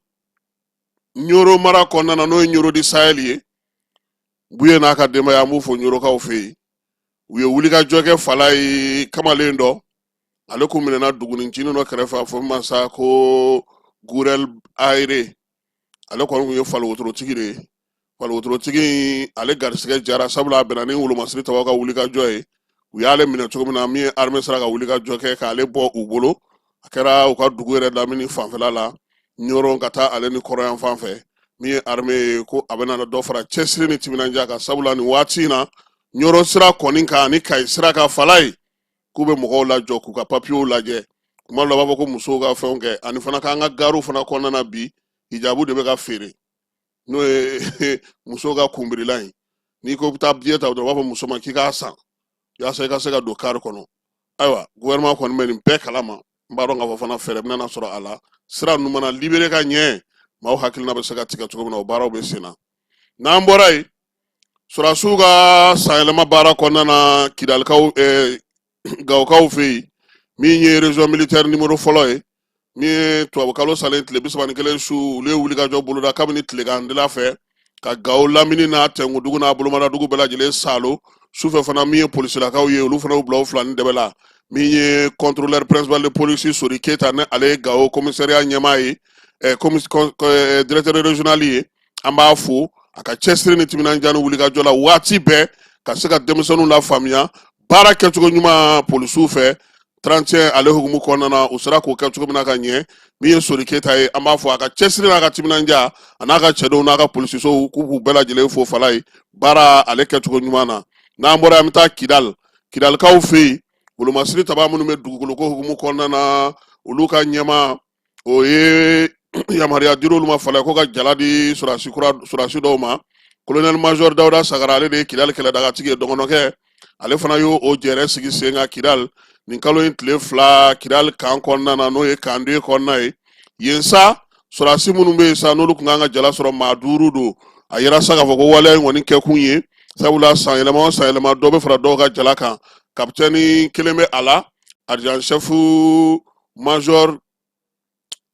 ɲoro mara kɔnɔna na n'o ye ɲoro di sayɛli ye buye n'a ka denbaya an b'u fo ɲorokaw fɛ yen u ye wulikajɔ kɛ fala ye kamalen dɔ ale kun minɛna dugunincinin dɔ kɛrɛfɛ a fɔ min ma sa ko gurɛl ayire ale kɔni kun ye fali wotorotigi de ye fali wotorotigi ale garisigɛ jara sabula a bɛnna ni wolomasiri taba ka wulikajɔ ye u y'ale minɛ cogo min na min ye armée sera ka wulikajɔ kɛ k'ale bɔ u bolo a kɛra u ka dugu yɛrɛ lamini fanfɛla la ɲɔrɔn ka taa ale ni kɔrɔyan fan fɛ min ye armée ye ko a bɛna dɔ fara cɛsiri ni timinandiya kan sabula nin waati in na ɲɔrɔn sira kɔni kan ani kayi sira kan fala ye k'u bɛ mɔgɔw lajɔ k'u ka papiyew lajɛ kuma dɔ la u b'a fɔ ko musow ka fɛnw kɛ ani fana k'an ka gariw fana kɔnɔna na bi hijabu de bɛ ka feere n'o ye musow ka kunbirila ye n'i ko bɛ taa biye ta dɔrɔn u b'a fɔ muso ma k'i k'a san yaasa i ka se ka don kari kɔnɔ ayiwa gouvernement kɔni bɛ nin bɛɛ kalama n b'a dɔn k'a fɔ fana fɛɛrɛ bɛna sɔrɔ a la sira ninnu mana libere ka ɲɛ maaw hakilina bɛ se ka tigɛ cogo min na o baaraw bɛ sen na n'an bɔra yen Surasiw ka sanyɛlɛma baara kɔnɔna na kidalikaw gawokaw fɛ yen min ye région militaire numéro fɔlɔ ye min ye tubabu kalo salen tile bisaba ni kelen su olu ye wulikajɔ boloda kabini tilegandila fɛ ka gawo lamini n'a tɛngu dugu n'a bolomadadugu bɛɛ lajɛlen salo sufɛ fana min ye polisilakaw ye olu fana y'u bila u fila ni dɛbɛ la min ye contrôleur principal de police sori keyita ni ale ye gawo commissariat ɲɛmaa ye directeur régional ye an b'a fo a ka cɛsiri ni timinandiya ni wulikajɔ la waati bɛɛ ka se ka denmisɛnninw lafaamuya baara kɛcogo ɲuman polisiw fɛ 31 ale hukumu kɔnɔna na u sera k'o kɛ cogo min na ka ɲɛ min ye sori keyita ye an b'a fo a ka cɛsiri n'a ka timinandiya a n'a ka cɛdenw n'a ka polisisow k'u bɛɛ lajɛlen fo fala ye baara ale kɛcogo ɲuman na n'an bɔra an bɛ taa kidali kidalikaw fɛ yen wolomasiri taba minnu bɛ dugukoloko hukumu kɔnɔna na olu ka ɲɛma o ye yamaruya dir'olu ma fala ko ka jala di surasi dɔw ma kolonɛli major dawuda sagara ale de ye kidali kɛlɛdagatigi ye dɔgɔnɔkɛ ale fana y'o jɛrɛ sigi sen kan kidali nin kalo in tile fila kidali kan kɔnɔna na n'o ye kan deux kɔnɔna ye yen sa surasi minnu bɛ yen sa n'olu tun kan ka jala sɔrɔ maa duuru don a y'a yira sa k'a fɔ ko waleya in kɔni kɛkun ye sabula san yɛlɛma o san yɛlɛma dɔ bɛ fara dɔw ka jala kan kapitɛni kelen bɛ a la adjudant chef major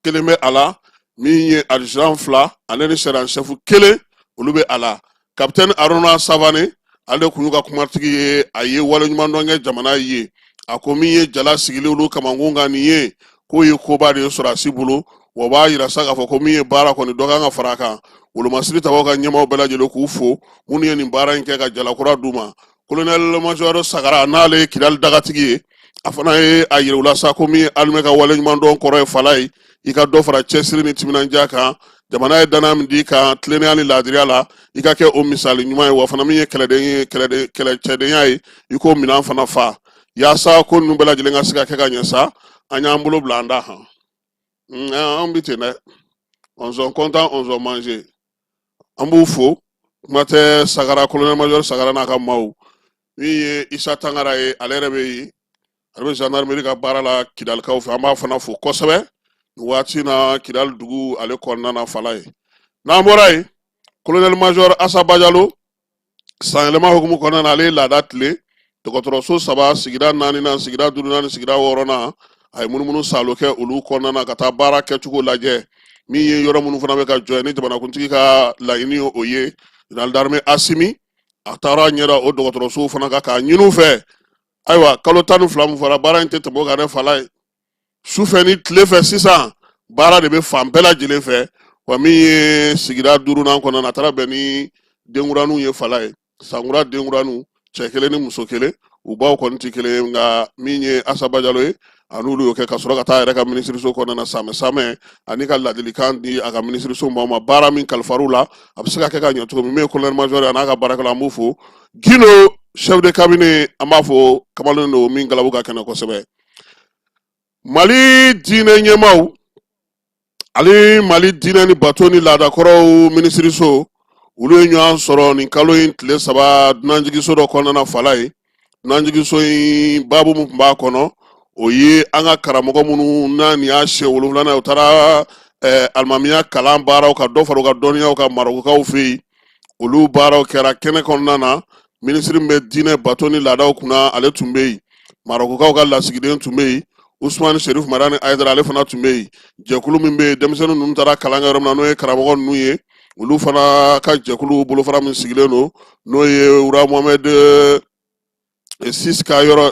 kelen bɛ a la min ye adjudant fila ale ni sergent chef kelen olu bɛ a la kapitɛni aruna savane ale kun y'u ka kumatigi ye a ye waleɲumandɔn kɛ jamana ye a ko min ye jala sigilen olu kamankun kan nin ye k'o ye koba de ye sɔrɔdasi bolo wa b'a yira sa k'a fɔ ko min ye baara kɔni dɔ kan ka fara a kan wolomasiri tabaw ka ɲɛmaaw bɛɛ lajɛlen k'u fo minnu ye nin baara in kɛ ka jalakura d'u ma kolonɛli majɔri sagara n'ale ye kidali dagatigi ye a fana ye a yira u la sa ko min ye alimɛ ka waleɲumandɔn kɔrɔ ye fala ye i ka dɔ fara cɛsiri ni timinandiya kan jamana ye danaya min d'i kan tilennenya ni laadiriya la i ka kɛ o misali ɲuman ye wa fana min ye kɛlɛcɛdenya ye i k'o minan fana fa yaasa ko ninnu bɛɛ lajɛlen ka se ka kɛ ka ɲɛ sa an y'an bolo bila an da kan an bɛ ten dɛ on s'en contente on s'en mange an b'u fo kuma tɛ sagara kolonɛli majɔri sagara n'a ka maaw min ye isa tangara ye ale yɛrɛ bɛ yen ale bɛ zandarimeri ka baara la kidalikaw fɛ an b'a fana fo kosɛbɛ nin waati na kidali dugu ale kɔnɔna na fala ye n'an bɔra yen kolonɛli majɔri asa bajalo sanyɛlɛma hukumu kɔnɔna na ale ye laada tilen dɔgɔtɔrɔso saba sigida naaninan sigida duurunan ni sigida wɔɔrɔnan a ye munumunu saalo kɛ olu kɔnɔna na ka taa baara kɛcogo lajɛ min ye yɔrɔ minnu fana bɛ ka jɔ ni jamanakuntigi ka laɲini ye o ye jenerali darime asimi a taara ɲɛ da o dɔgɔtɔrɔsow fana kan k'a ɲini u fɛ ayiwa kalo tan ni fila min fɔra baara in tɛ tɛmɛ o kan dɛ fala ye sufɛ ni tile fɛ sisan baara de bɛ fan bɛɛ lajɛlen fɛ wa min ye sigida duurunan kɔnɔna na a taara bɛn ni denkuraninw ye fala ye sankura denkuraninw cɛ kelen ni muso kelen u baw kɔni tɛ kelen ye nka min ye asa bajalo ye a ni olu y'o kɛ ka sɔrɔ ka taa a yɛrɛ ka minisiriso kɔnɔna na samɛ samɛ ani ka ladilikan di a ka minisiriso maaw ma baara min kalifar'u la a bɛ se ka kɛ ka ɲɛ cogo min min ye kolonɛli majɔri a n'a ka baarakɛla an b'u fo gindo chef de cabinet an b'a fɔ kamalen don min galabu ka kɛnɛ kosɛbɛ mali diinɛ ɲɛmaaw ani mali diinɛ ni bato ni laadakɔrɔw minisiriso olu ye ɲɔgɔn sɔrɔ nin kalo in tile saba dunanjigiso dɔ kɔnɔna na fala ye dunanjigiso in babu min tun b'a kɔnɔ o ye an ka karamɔgɔ minnu na nin y'a siɲɛ wolonwulanan u taara eh, alimamiya kalan baaraw ka dɔ fara u ka dɔnniyaw kan marokokaw fɛ yen olu baaraw kɛra kɛnɛ kɔnɔna na minisiri min bɛ diinɛ bato ni laadaw kunna ale tun bɛ yen marokokaw ka lasigiden tun bɛ yen usumani serif madani ayidara ale fana tun bɛ yen jɛkulu min bɛ yen denmisɛnnin ninnu taara kalan kɛ yɔrɔ min na n'o ye karamɔgɔ ninnu ye olu fana ka jɛkulu bolofara min sigilen don n'o ye roi mohamɛd eh, sis ka yɔrɔ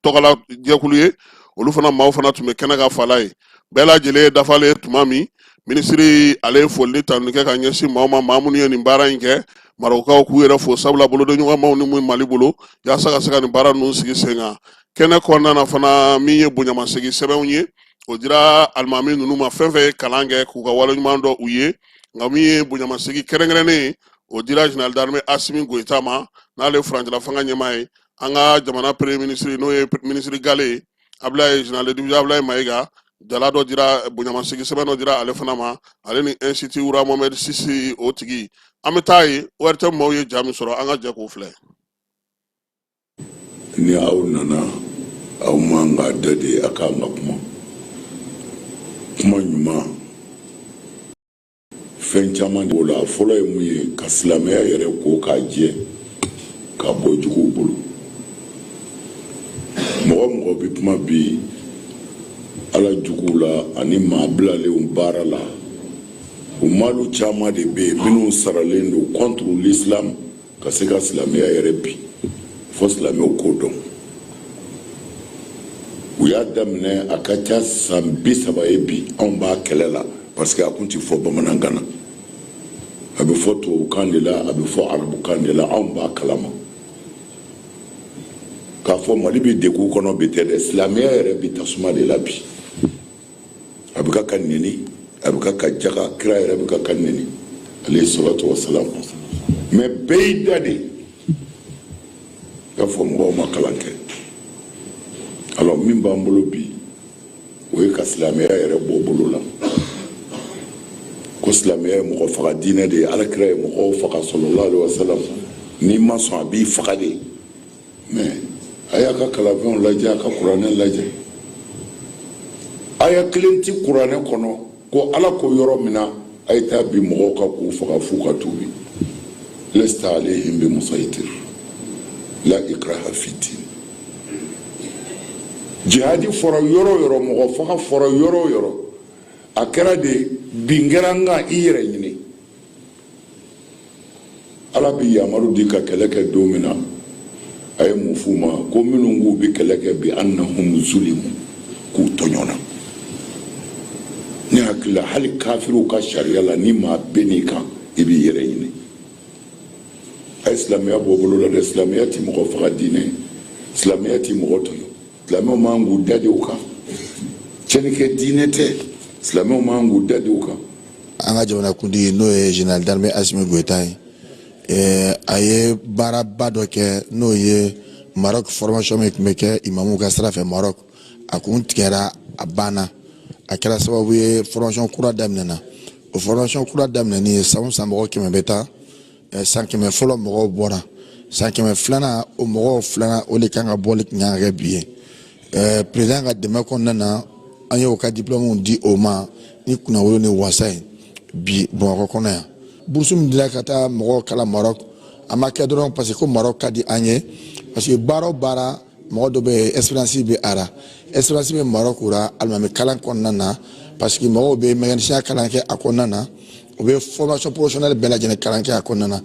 tɔgɔla jɛkulu ye olu fana maaw fana tun bɛ kɛnɛ kan fala ye bɛɛ lajɛlen dafalen tuma min minisiri ale ye foli ni tanuni kɛ ka ɲɛsin maaw ma maa minnu ye nin baara in kɛ marɔkaw k'u yɛrɛ fo sabula bolodiɲɔgɔnma u ni mun mali bolo yaasa ka se ka nin baara ninnu sigi sen kan kɛnɛ kɔnɔna na fana min ye bonyamasegin sɛbɛnw ye o dira alimami ninnu ma fɛn fɛn ye kalan kɛ k'u ka waleɲuman dɔn u ye nka min ye bonyamasegin kɛrɛnkɛrɛnnen ye o dira général d'armée asimi goyita ma n'ale ye furancɛla fanga ɲɛmaa ye an ka jamana premier ministre n'o ye minisiri gale ye Ablaye général de division Ablaye Maïga jala dɔ dira bonyamasegin sɛbɛn dɔ dira ale fana ma ale ni institut roi Mohamed six o tigi an bɛ taa ye ORTM maaw ye ja min sɔrɔ an ka jɛ k'o filɛ ni aw nana aw man ka da de a kan ka kuma kuma ɲuman fɛn caman de b'o la a fɔlɔ ye mun ye ka silamɛya yɛrɛ ko k'a jɛ ka bɔ juguw bolo mɔgɔ mɔgɔ bɛ kuma bi ala juguw la ani maa bilalenw baara la o maalu caman de bɛ yen minnu saralen don contre l'islam ka se ka silamɛya yɛrɛ bin fo silamɛw k'o dɔn u y'a daminɛ a ka ca san bi saba ye bi anw b'a kɛlɛ la parce que a kun ti fɔ bamanankan na a bɛ fɔ tubabukan de la a bɛ fɔ arabukan de la anw b'a kalama k'a fɔ mali bɛ degun kɔnɔ bi tɛ dɛ silamɛya yɛrɛ bi tasuma de la bi a bɛ ka ka nɛni a bɛ ka ka jaga kira yɛrɛ bɛ ka ka nɛni alaihi salatu wa salam mais bɛɛ y'i da de k'a fɔ mɔgɔw ma kalan kɛ alors min b'an bolo bi o ye ka silamɛya yɛrɛ bɔ bolo la ko silamɛya ye mɔgɔ faga diinɛ de ye alakira ye mɔgɔw faga sallallahu alaihi wa salam n'i ma sɔn a b'i faga de mais a y'a ka kalanfɛnw lajɛ a ka kuranɛ lajɛ aya kelen ti kuranɛ kɔnɔ ko ala ko yɔrɔ min na a ye taa bin mɔgɔw kan k'u faga f'u ka tuubi lesta alaihim bi musaitir la ikraha fiddin jihadi fɔra yɔrɔ yɔrɔ mɔgɔ faga fɔra yɔrɔ yɔrɔ a kɛra de bin kɛra n kan i yɛrɛ ɲini ala bi yamaru di ka kɛlɛ kɛ don min na a ye mun f'u ma ko minnu k'u bɛ kɛlɛ kɛ bi annahum zulimu k'u tɔɲɔna ne hakili la hali kafiriw ka sariya la ni maa binn'i kan i b'i yɛrɛ ɲini a ye silamɛya bɔ bolo la dɛ silamɛya ti mɔgɔ faga diinɛ silamɛya ti mɔgɔ tɔɲɔ silamɛw man k'u da de o kan cɛnnikɛ diinɛ tɛ silamɛw man k'u da de o kan an ka jamanakuntigi n'o ye général d'armée asimi goyita ye eh, a ye baaraba dɔ kɛ n'o ye maroc formation min tun bɛ kɛ imamuw ka sira fɛ maroc a kun tigɛra a banna a kɛra sababu ye formation kura daminɛna o formation kura daminɛni ye san o san mɔgɔ kɛmɛ bɛ taa san kɛmɛ fɔlɔ mɔgɔw bɔra san kɛmɛ filanan o mɔgɔw filanan o de kan ka bɔli tun kan ka kɛ bi ye perezidan ka dɛmɛ kɔnɔna na an y'o ka diplɔmuw di o ma ni kunnawolo ni wasa ye bi bamakɔ kɔnɔ yan burusu min dila ka taa mɔgɔw kalan marɔk a ma kɛ dɔrɔn parce que ko marɔk ka di an ye parce que baara o baara mɔgɔ dɔ bɛ expérience bɛ a ra expérience bɛ marɔk ra alimami kalan kɔnɔna na parce que mɔgɔw bɛ mécanicien kalan kɛ a kɔnɔna na u bɛ formation professionnelle bɛɛ lajɛlen kalan kɛ a kɔnɔna na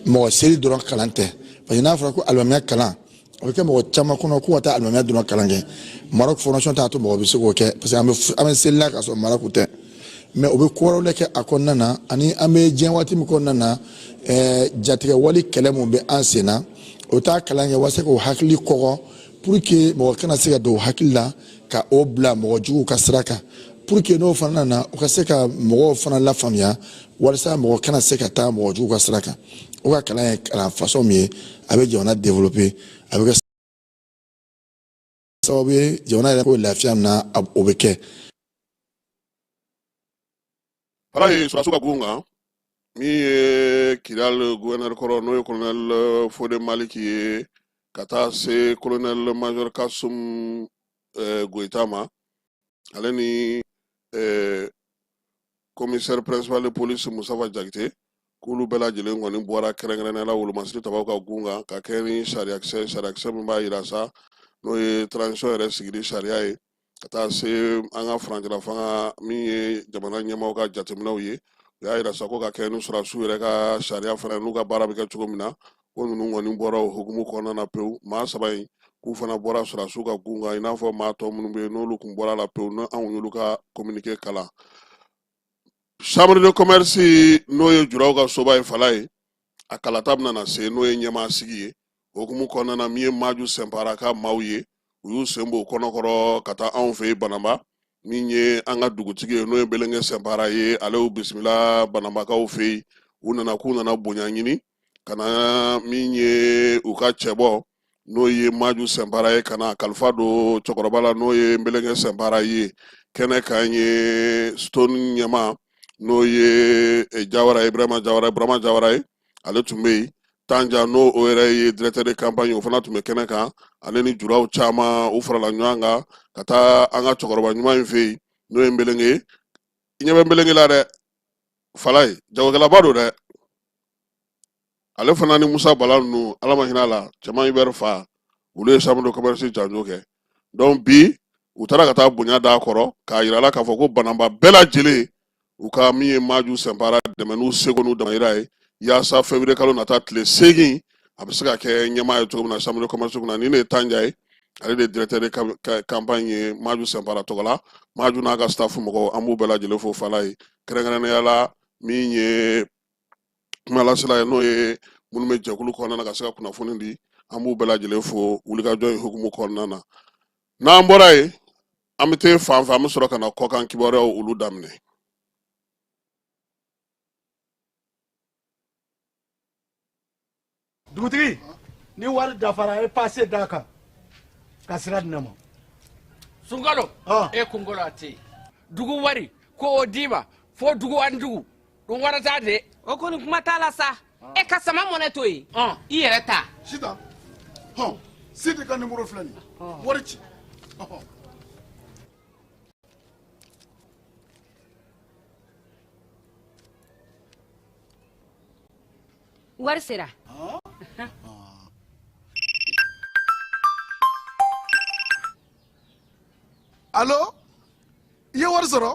mɔgɔ seli dɔrɔn kalan tɛ parce que n'a fɔra ko alimamiya kalan o bɛ kɛ mɔgɔ caman kɔnɔ ko ka taa alimamiya dɔrɔn kalan kɛ marɔk formation t'a to mɔgɔ bɛ se k'o kɛ parce que an bɛ an bɛ seli la k'a sɔrɔ marɔk tɛ mais o bɛ ko wɛrɛw de kɛ a kɔnɔna na ani an bɛ diɲɛ waati min kɔnɔna na ɛɛ jatigɛwale kɛlɛ min bɛ an sen na o taa kalan kɛ walasa k'o hakili kɔgɔ pour que mɔgɔ kana se ka don o hakili la ka o bila mɔgɔ juguw ka sira kan pour que n'o fana nana o ka se ka mɔgɔw fana lafaamuya walasa mɔgɔ kana se ka taa mɔgɔ juguw ka sira kan o ka kalan ye kalan façon min ye a bɛ jamana développer a bɛ kɛ sababu ye jamana yɛrɛ ko lafiya min na o bɛ kɛ ala ye sɔrɔdasiw ka gun kan min ye kidal guvɛnɛri kɔrɔ n'o ye kolonɛl fode maliki ye ka taa se kolonɛl majɔr kasum eh, goyita ma ale ni eh, komisɛri principal de police Musafa Jakite k'olu bɛɛ lajɛlen kɔni bɔra kɛrɛnkɛrɛnnenya la wolomasiri tabaw ka gun kan ka kɛ ni sariyakisɛ sariyakisɛ min b'a yira sa n'o ye transition yɛrɛ sigili sariya ye ka taa se an ka furancɛla fanga min ye jamana ɲɛmaaw ka jateminɛw ye u y'a yira sa ko ka kɛ ni sɔrɔdasiw yɛrɛ ka sariya fana n'u ka baara bɛ kɛ cogo min na ko ninnu kɔni bɔra o hukumu kɔnɔna na pewu maa saba in k'u fana bɔra sɔrɔdasiw ka gun kan i n'a fɔ maa tɔ minnu bɛ yen n'olu tun bɔra la pewu ni anw y'olu ka kominike kalan chambre de commerce n'o ye juraw ka soba ye fala ye a kalata bɛna na se n'o ye ɲɛmaa sigi ye hukumu kɔnɔna na min ye maju sɛnpara ka maaw ye u y'u sen bɔ kulukɔrɔ ka taa anw fɛ yen bananba min ye an ka dugutigi ye n'o ye belenge sɛnpara ye ale y'u bisimila bananbakaw fɛ yen u nana k'u nana bonya ɲini ka na min ye u ka cɛbɔ n'o ye maju sɛnpara ye ka na kalifa don cɛkɔrɔba la n'o ye nbelenge sɛnpara ye kɛnɛ kan ye stone ɲɛmaa n'o ye eh, jawara ye burama jawara burama jawara ye ale tun bɛ yen tanja n'o o yɛrɛ ye directeur de campagne o fana tun bɛ kɛnɛ kan ale ni juraw caman u farala ɲɔgɔn kan ka taa an ka cɛkɔrɔba ɲuman in fɛ yen n'o ye nbelenge i ɲɛ bɛ nbelenge la dɛ fala ye jagokɛlaba don dɛ ale fana ni musa bala ninnu ala ma hinɛ a la cɛman ibɛri fa olu ye chambre de commerce janjo kɛ donc bi u taara ka taa bonya d'a kɔrɔ k'a yira la k'a fɔ ko bananba bɛɛ lajɛlen u ka min ye maju sɛnpara dɛmɛ n'u seko n'u damayira ye yaasa feburuye kalo nata tile seegin a bɛ se ka kɛ ɲɛmaa ye cogo min na chambre de commerce kunna ni ne ye tanja ye ale de directeur de campagne ye maju sɛnpara tɔgɔ la maju n'a ka staff mɔgɔw an b'u bɛɛ lajɛlen fo fala ye kɛrɛnkɛrɛnnenya la min ye kumalasela ye n'o ye minnu bɛ jɛkulu kɔnɔna na ka se ka kunnafoni di an b'u bɛɛ lajɛlen fo wulikajɔ in hukumu kɔnɔna na n'an bɔra yen an bɛ taa fan fɛ an bɛ sɔrɔ ka na kɔkan kibaruyaw olu daminɛ dugutigi ni wari dafara a ye pase d'a kan ka sira di ne ma sunkalo e kunkolo a tɛ yen dugu wari ko o d'i ma fo dugu ani dugu dun wari t'a dɛ o kɔni kuma t'a la sa e ka sama mɔnɛ to yen i yɛrɛ ta sita hɔn sidi ka nimɔrɔ filɛ nin wari ci wari sera alo i ye wari sɔrɔ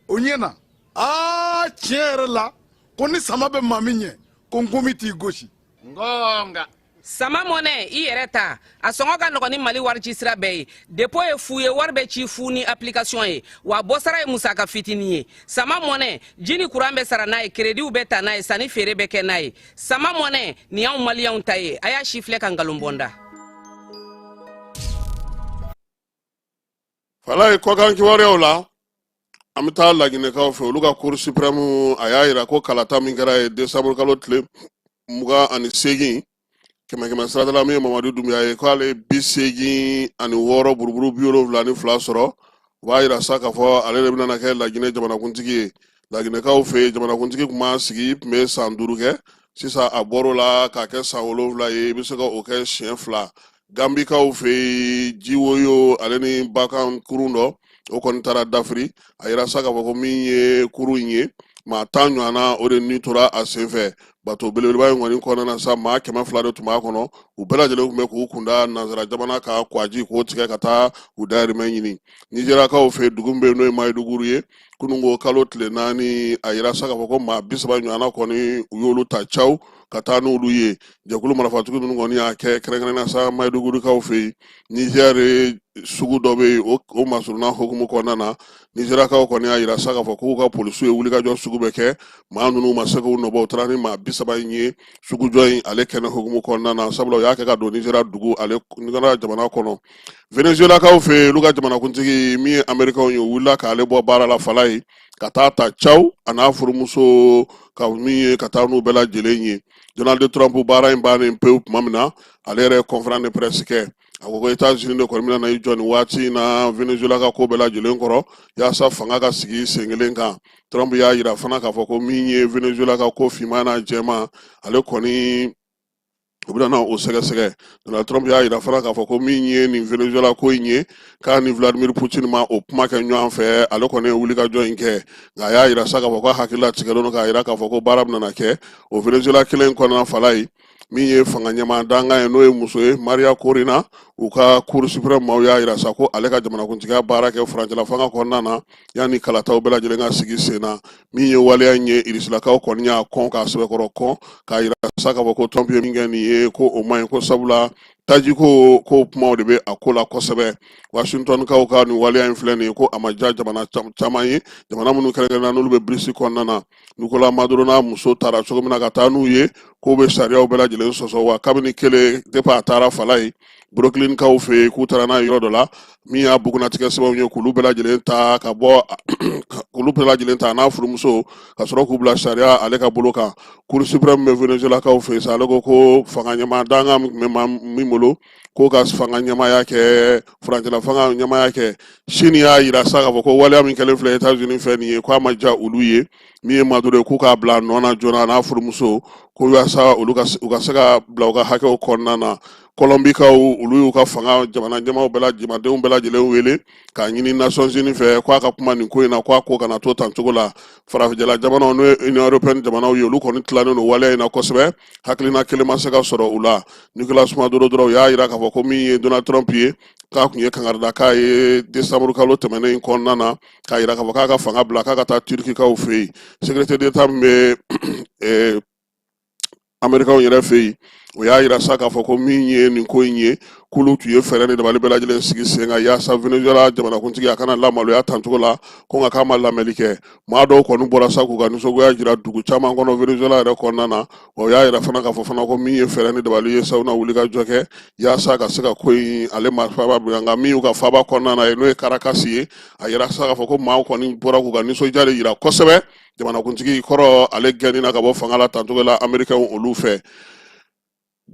o ɲɛna aa tiɲɛ yɛrɛ la ko ni sama bɛ maa min ɲɛ ko nkomi t'i gosi nka sama mɔnɛ i yɛrɛ ta a sɔngɔ ka nɔgɔn ni mali warici sira bɛɛ ye depo ye fu ye wari bɛ ci fu ni application ye wa bɔsara ye musaka fitinin ye sama mɔnɛ ji ni kuran bɛ sara n'a ye kerediw bɛ ta n'a ye sanni feere bɛ kɛ n'a ye sama mɔnɛ nin y'anw maliyɛnw ta ye a y'a sifilɛ ka nkalon bɔ n da fala ye kɔkan kibaruyaw la an bɛ taa laginɛkaw fɛ olu ka cour suprême a y'a yira ko kalata min kɛra yen desanburu kalo tile mugan ani seegin kɛmɛ kɛmɛ sarada la min ye mamadu dunbuya ye k'ale ye bi seegin ani wɔɔrɔ buruburu bi wolonwula ni fila sɔrɔ u b'a yira sa k'a fɔ ale de bɛna kɛ laginɛ jamanakuntigi ye laginɛkaw fɛ yen jamanakuntigi tun b'a sigi tun bɛ san duuru kɛ sisan a bɔr'o la k'a kɛ san wolonwula ye i bɛ se ka o kɛ siɲɛ fila gambikaw fɛ yen jiwoyo ale ni bakan kurun dɔ o kɔni taara dafiri a yira sa k'a fɔ ko min ye kurun in ye maa tan ɲɔgɔnna o de ni tora a senfɛ bato belebeleba in kɔni kɔnɔna na sa maa kɛmɛ fila de tun b'a kɔnɔ u bɛɛ lajɛlen tun bɛ k'u kunda nansara jamana ka kwaji k'o tigɛ ka taa u dayirimɛ ɲini nizeriyakaw fɛ dugu min bɛ yen n'o ye mayiduguri ye kununko kalo tile naani a yira sa k'a fɔ ko maa bi saba ɲɔgɔnna kɔni u y'olu ta caw ka taa n'olu ye jɛkulu marafatigi ninnu kɔni y'a kɛ kɛrɛnkɛrɛnna sa mayidugurikaw fɛ yen nizɛri sugu dɔ bɛ yen o masurunna hukumu kɔnɔna na nizeriyakaw kɔni y'a yira sa k'a fɔ k'u ka polisiw ye wulikajɔ sugu bɛɛ kɛ maa ninnu ma se k'u nɔbɔ u taara ni maa bi saba in ye sugujɔ in ale kɛnɛ hukumu kɔnɔna na sabula u y'a kɛ ka don nizeriya dugu ale jamana kɔnɔ venezuelakaw fɛ yen olu ka jamanakuntigi min ye amerikaw ye wulila k'ale bɔ baara la fala ye ka taa ta caw a n'a furumuso k'a minɛ ka taa n'u bɛɛ lajɛlen ye donald trump baara in bannen pewu tuma min na ale yɛrɛ ye conférence de presse kɛ a ko ko etats unis de kɔni bɛna na i jɔ nin waati in na venezuela ka ko bɛɛ lajɛlen kɔrɔ yaasa fanga ka sigi sen kelen kan trump y'a yira fana k'a fɔ ko min ye venezuela ka ko finman n'a jɛman ale kɔni u bɛna na o sɛgɛsɛgɛ donald trump y'a yira fana k'a fɔ ko min ye nin venezuela ko in ye k'a ni vladimir putin ma o kuma kɛ ɲɔgɔn fɛ ale kɔni ye wulikajɔ in kɛ nka a y'a yira sa k'a fɔ ko a hakili latigɛlen don k'a yira k'a fɔ ko baara bɛna kɛ o venezuela kelen kɔnɔna fala ye min ye fanga ɲɛmaa dankan ye n'o ye muso ye maria corina u ka cour supreme maaw y'a yira sa ko ale ka jamanakuntigiya baara kɛ furancɛla fanga kɔnɔna na yanni kalataw bɛɛ lajɛlen ka sigi sen na min ye waleya in ye irisilakaw kɔni y'a kɔn k'a sɛbɛkɔrɔ kɔn k'a yira sa k'a fɔ ko trump ye min kɛ nin ye ko o man ɲi ko sabula tajiko ko kumaw de bɛ a ko la kosɛbɛ washingtonkaw ka nin waleya in filɛ nin ye ko a ma diya jamana caman ye jamana minnu kɛrɛnkɛrɛnna n'olu bɛ brics kɔnɔna na Nicolas Maduro n'a muso taara cogo min na ka taa n'u ye k'o bɛ sariyaw bɛɛ lajɛlen sɔsɔ wa kabini kelen depuis a taara fala ye brooklynkaw fɛ yen k'u taara n'a ye yɔrɔ dɔ la min y'a bugunnatigɛ sɛbɛnw ye k'olu bɛɛ lajɛlen ta ka bɔ k'olu bɛɛ lajɛlen ta n'a furumuso ka sɔrɔ k'u bila sariya ale ka bolo kan cour supreme min bɛ venezuelakaw fɛ yen sa ale ko ko fanga ɲɛmaa dankan min bɛ maa min bolo k'o ka fanga ɲɛmaaya kɛ furancɛla fanga ɲɛmaaya kɛ sini y'a yira sa k'a fɔ ko waleya min kɛlen filɛ etats unis fɛ nin ye k'a ma ja olu ye min ye maduro ye k'u k'a bila a nɔ na joona a n'a furumuso ko yaasa olu ka u ka se ka bila u ka hakɛw kɔnɔna na kɔlɔnbikaw olu y'u ka fanga jamana ɲɛmaaw bɛɛ la jamanadenw bɛɛ lajɛlen wele k'a ɲini nations unies fɛ k'a ka kuma nin ko in na k'a ko kana to tan cogo la farajɛla jamanaw n'o ye union européenne jamanaw ye olu kɔni tilalen don waleya in na kosɛbɛ hakilina kelen ma se ka sɔrɔ u la nicolas maduro dɔrɔn u y'a jira k'a fɔ ko min ye donald trump ye k'a tun ye kangari da k'a ye desanburu kalo tɛmɛnen in kɔnɔna na k'a jira k'a fɔ k'a ka fanga bila k'a ka taa turkikaw fɛ yen secrétaire d'état min bɛ eh, amerikaw yɛrɛ fɛ yen o y'a jira sa k'a fɔ ko min ye nin ko in ye k'olu tun ye fɛɛrɛ ni dabali bɛɛ lajɛlen sigi sen kan yaasa venezuela jamanakuntigi a kana lamaloya tancogo la ko nka k'a ma lamɛnni kɛ maa dɔw kɔni bɔra sa k'u ka nisɔngoya jira dugu caman kɔnɔ venezuela yɛrɛ kɔnɔna na o y'a jira fana k'a fɔ fana ko min ye fɛɛrɛ ni dabali ye sa u na wuli ka jɔ kɛ yaasa ka se ka ko in ale ma faba bila nka min y'u ka faaba kɔnɔna na ye n'o ye karakasi ye a jira sa k'a fɔ ko maaw kɔni bɔra k'u ka nisɔndiya de jira kosɛbɛ jamanakuntigi kɔrɔ ale gɛnni na ka bɔ fanga la tancogo la amerikɛnw olu fɛ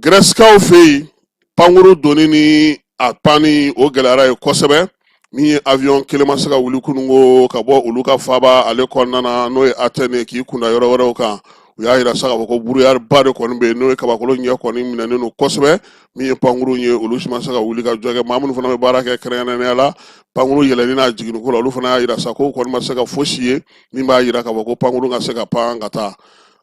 Gɛrɛsikaw fɛ yen pankuru donni ni a panni o gɛlɛyara ye kosɛbɛ min ye awyɔn kelen ma se ka wuli kununko ka bɔ olu ka faaba ale kɔnɔna na n'o ye atɛne k'i kunda yɔrɔ wɛrɛw kan u y'a jira sa k'a fɔ ko buruyariba de kɔni bɛ yen n'o ye kabakolo ɲɛ kɔni minɛnen don kosɛbɛ min ye pankuru ye olu si ma se ka wuli ka jɔ kɛ maa minnu fana bɛ baara kɛ kɛrɛnkɛrɛnnenya la pankuru yɛlɛnni n'a jiginniko la olu fana y'a jira sa ko kɔni ma se ka fosi ye min b'a jira k'a fɔ ko pankuru ka se ka pan ka taa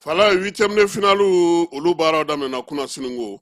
fala huitième de finale olu baaraw daminɛna kunasiniko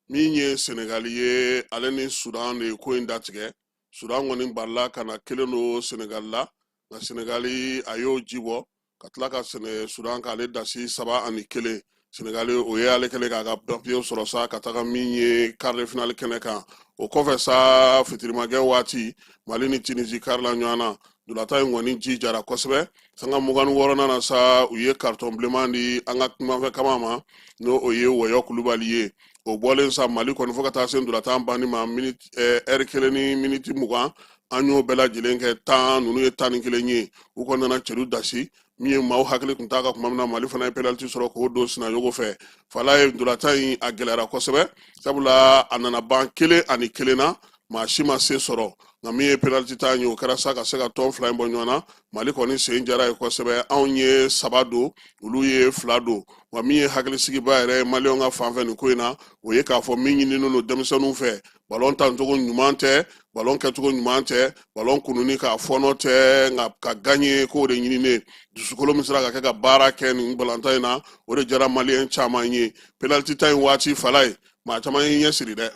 min ye senegali ye ale ni sudan de ye ko in datigɛ sudan kɔni balila ka na kelen don senegali la nka senegali a y'o ji bɔ ka tila ka sudan k'ale dasi saba ani kelen Senegali o ye ale kɛlen k'a ka papiye sɔrɔ sa ka taga min ye quart de finale kɛnɛ kan o kɔfɛ sa fitirimakɛ waati mali ni tunisi karila ɲɔgɔn na ntolatan in kɔni ji jara kosɛbɛ sanga mugan ni wɔɔrɔnan na sa u ye karitɔn bilenman di an ka numanfɛ kaman ma n'o o ye wɔyɔ kulubali ye o bɔlen sa mali kɔni fo ka taa se ntolatan banni ma miniti eh, ɛri kelen ni miniti mugan an y'o bɛɛ lajɛlen kɛ tan ninnu ye tan ni kelen ye u kɔni nana celu dasi min ye maaw hakili tun t'a ka kuma min na mali fana ye penaliti sɔrɔ k'o don sinayogo fɛ fala ye ntolatan in a gɛlɛyara kosɛbɛ sabula a nana ban kelen ani kelen na maa si ma se sɔrɔ nka min ye penaliti ta ye o kɛra sa ka se ka tɔn fila in bɔ ɲɔgɔn na mali kɔni sen jara ye kosɛbɛ anw ye saba don olu ye fila don wa min ye hakilisigiba yɛrɛ ye maliyɛnw ka fanfɛ nin ko in na o ye k'a fɔ min ɲininen don denmisɛnninw fɛ balon tancogo ɲuman tɛ balon kɛcogo ɲuman tɛ balon kununni k'a fɔɔnɔ tɛ nka ka ganye k'o de ɲininen dusukolo min sera ka kɛ ka baara kɛ nin balontan in na o de jara maliyɛn caman ye penaliti ta in waati fala ye maa caman y'i ɲɛ siri dɛ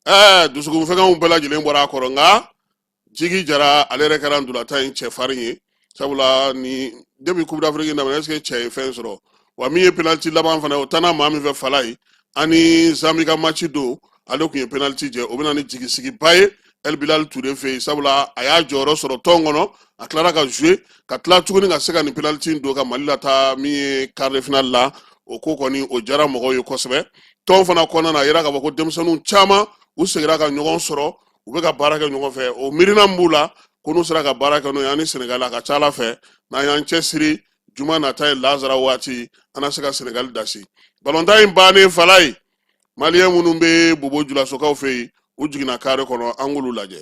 ɛɛ dusukun fɛgɛnw bɛɛ lajɛlen bɔra a kɔrɔ nka jigi jara ale yɛrɛ kɛra ndolatan in cɛfarin ye sabula ni depi coupe d'afrique daminɛ ɛseke cɛ ye fɛn sɔrɔ wa min ye penaliti laban fana o tanna maa min fɛ fala ye ani zambi ka maci don ale tun ye penaliti jɛ o bɛ na ni jigisigiba ye el bilal ture fɛ yen sabula a y'a jɔyɔrɔ sɔrɔ tɔn kɔnɔ a tilara ka zue ka tila tuguni ka se ka nin penaliti don ka mali lataa min ye quart de finale la o ko kɔni o jara mɔgɔw ye kosɛbɛ tɔn fana kɔnɔna na a yira k'a fɔ ko denmisɛnninw caman u segira ka ɲɔgɔn sɔrɔ u bɛ ka baara kɛ ɲɔgɔn fɛ o miirina min b'u la ko n'u sera ka baara kɛ n'o ye an ni sɛnɛgali a ka ca ala fɛ n'an y'an cɛsiri juma nata ye lazara waati an na se ka sɛnɛgali dasi balontan in bannen fala ye maliyɛn minnu bɛ bobo julasokaw fɛ yen u jiginna kare kɔnɔ an k'olu lajɛ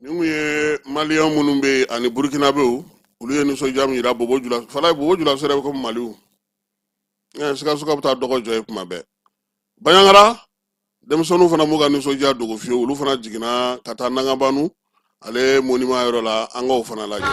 nin kun ye maliyɛn minnu bɛ yen ani burukinabew olu ye nisɔndiya min yira bobo julaso fala ye bobo julaso yɛrɛ bɛ komi maliw sikasokaw bɛ taa dɔgɔ jɔ yen kuma bɛɛ baɲangara denmisɛnninw fana m'u ka nisɔndiya dogo fiyewu olu fana jiginna ka taa nangabanu ale monima yɔrɔ la an k'o fana lajɛ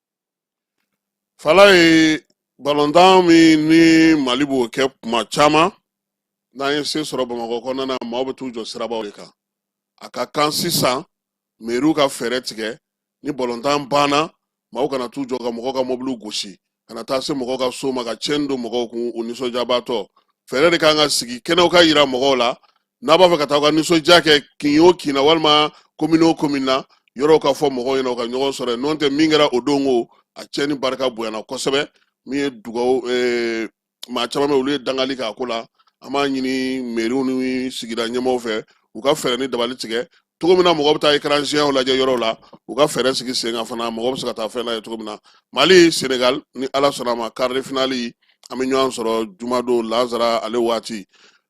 fala ye balontan min ni mali b'o kɛ kuma caman n'an ye se sɔrɔ bamakɔ kɔnɔna na maaw bɛ t'u jɔ sirabaw de kan a ka kan sisan meriw ka fɛɛrɛ tigɛ ni balontan banna maaw kana t'u jɔ ka mɔgɔw ka mɔbiliw gosi kana taa se mɔgɔw ka so ma ka tiɲɛni don mɔgɔw kun u nisɔndiyabaatɔ fɛɛrɛ de kan ka sigi kɛnɛw ka yira mɔgɔw la n'a b'a fɛ ka taa u ka nisɔndiya kɛ kin o kin na walima komini o komini na yɔrɔw ka fɔ mɔgɔw ɲɛna u ka ɲɔgɔn sɔrɔ yen n'o tɛ min kɛra o don ko a tiɲɛni barika bonyana kosɛbɛ min ye dugawu eh, maa caman bɛ olu ye dangali k'a ko la an b'a ɲini meriw ni sigida ɲɛmɔgɔw fɛ u ka fɛɛrɛ ni dabali tigɛ cogo min na mɔgɔ bɛ taa écran géant lajɛ yɔrɔw la u ka fɛɛrɛ sigi sen kan fana mɔgɔ bɛ se ka taa fɛn lajɛ cogo min na mali senegal ni ala sɔnna a ma quart de finale an bɛ ɲɔgɔn sɔrɔ jumadon lazara ale waati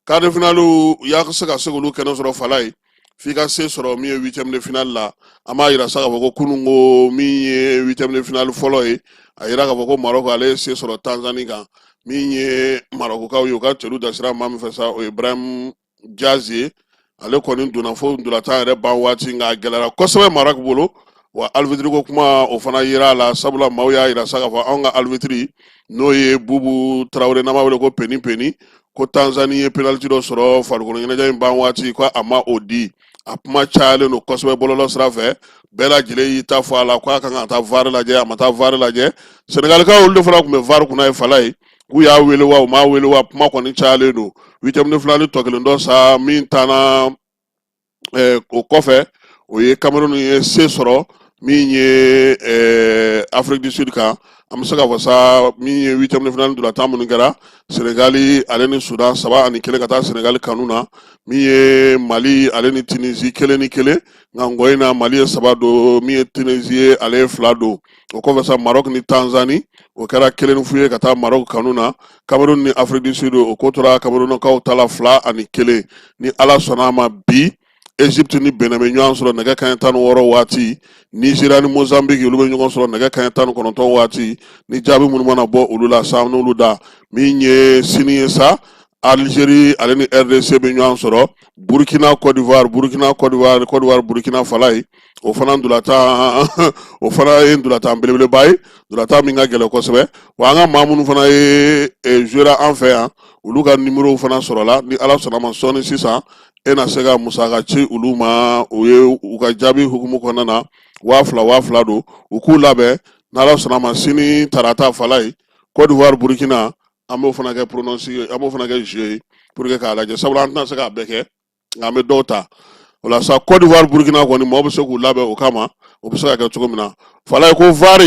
quart de finale u y'a se ka se k'olu kɛnɛ sɔrɔ fala ye f'i ka se sɔrɔ min ye huitième de finale la an b'a yira sa k'a fɔ ko kunun ko min ye huitième de finale fɔlɔ ye a yira k'a fɔ ko marɔku ale ye se sɔrɔ tanzani kan min ye marɔkukaw ye u ka celu dasira maa min fɛ sa o ye ibrahim diaz ye ale kɔni donna fo ndolatan yɛrɛ ban waati nka a gɛlɛyara kosɛbɛ marɔku bolo wa alibitiri ko kuma o fana yera a la sabula maaw y'a yira sa k'a fɔ anw ka alibitiri n'o ye bubu tarawele n'an b'a wele ko peni peni ko tanzani ye penaliti dɔ sɔrɔ farikolo ɲɛnajɛ in ban waati ko a ma o di a kuma cayalen don kosɛbɛ bɔlɔlɔ sira fɛ bɛɛ lajɛlen y'i ta fɔ a la ko a kan ka taa var lajɛ a ma taa var lajɛ senegalikaw olu de fana tun bɛ var kunna yen fala ye k'u y'a wele wa u m'a wele wa kuma kɔni cayalen don huitième de finale tɔ kelen dɔ sa min tanna eh, o kɔfɛ o ye cameroun ye se sɔrɔ min ye eh, afrique du sud kan an bɛ se k'a fɔ sa min ye huitième de finale ntolatan minnu kɛra senegali ale ni sudan saba ani kelen ka taa senegali kanu na min ye mali ale ni tunisi kelen ni kelen nka ngɔyi na mali ye saba don min ye tunisi ye ale ye fila don o kɔfɛ sa marɔk ni tanzani o kɛra kelen fu ye ka taa marɔk kanu na kamerun ni afiriki du sud o ko tora kamerunkaw ta la fila ani kelen ni ala sɔnna a ma bi egypte ni benin bɛ ɲɔgɔn sɔrɔ nɛgɛ kaɲɛ tan ni wɔɔrɔ waati nizeriya ni mozambique olu bɛ ɲɔgɔn sɔrɔ nɛgɛ kaɲɛ tan ni kɔnɔntɔn waati ni jaabi minnu mana bɔ olu la sa n'olu da min ye sini ye sa Algérie ale ni RDC bɛ ɲɔgɔn sɔrɔ Burkina Côte d'Ivoire Côte d'Ivoire Burkina Falaye o fana ntolatan o fana ye ntolatan belebeleba ye ntolatan min ka gɛlɛn kosɛbɛ wa an ka maa minnu fana ye jouera an fɛ yan olu ka nimorow fana sɔrɔla ni ala sɔnna ma sɔɔni sisan e na se ka musaka ci olu ma o ye u ka jaabi hukumu kɔnɔna na waa fila waa fila don u k'u labɛn n'ala sɔnna ma sini tarata Falaye cote d'ivoire burkina an b'o fana kɛ pronostic an b'o fana kɛ jeu ye pour que k'a lajɛ sabula an tɛna se k'a bɛɛ kɛ nka an bɛ dɔw ta o la sa Côte d'Ivoire Burkina kɔni maaw bɛ se k'u labɛn o kama o bɛ se ka kɛ cogo min na Falaye ko VAR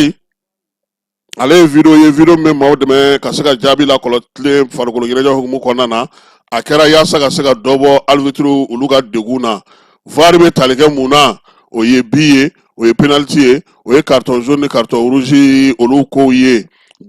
ale ye video ye video min bɛ maaw dɛmɛ ka se ka jaabi lakɔlɔtilen farikolo ɲɛnajɛ hukumu kɔnɔna na a kɛra yaasa ka se ka dɔ bɔ arbitriw olu ka degun na VAR bɛ tali kɛ mun na o ye bi ye o ye penaliti ye o ye carton jaune ni carton rouge olu kow ye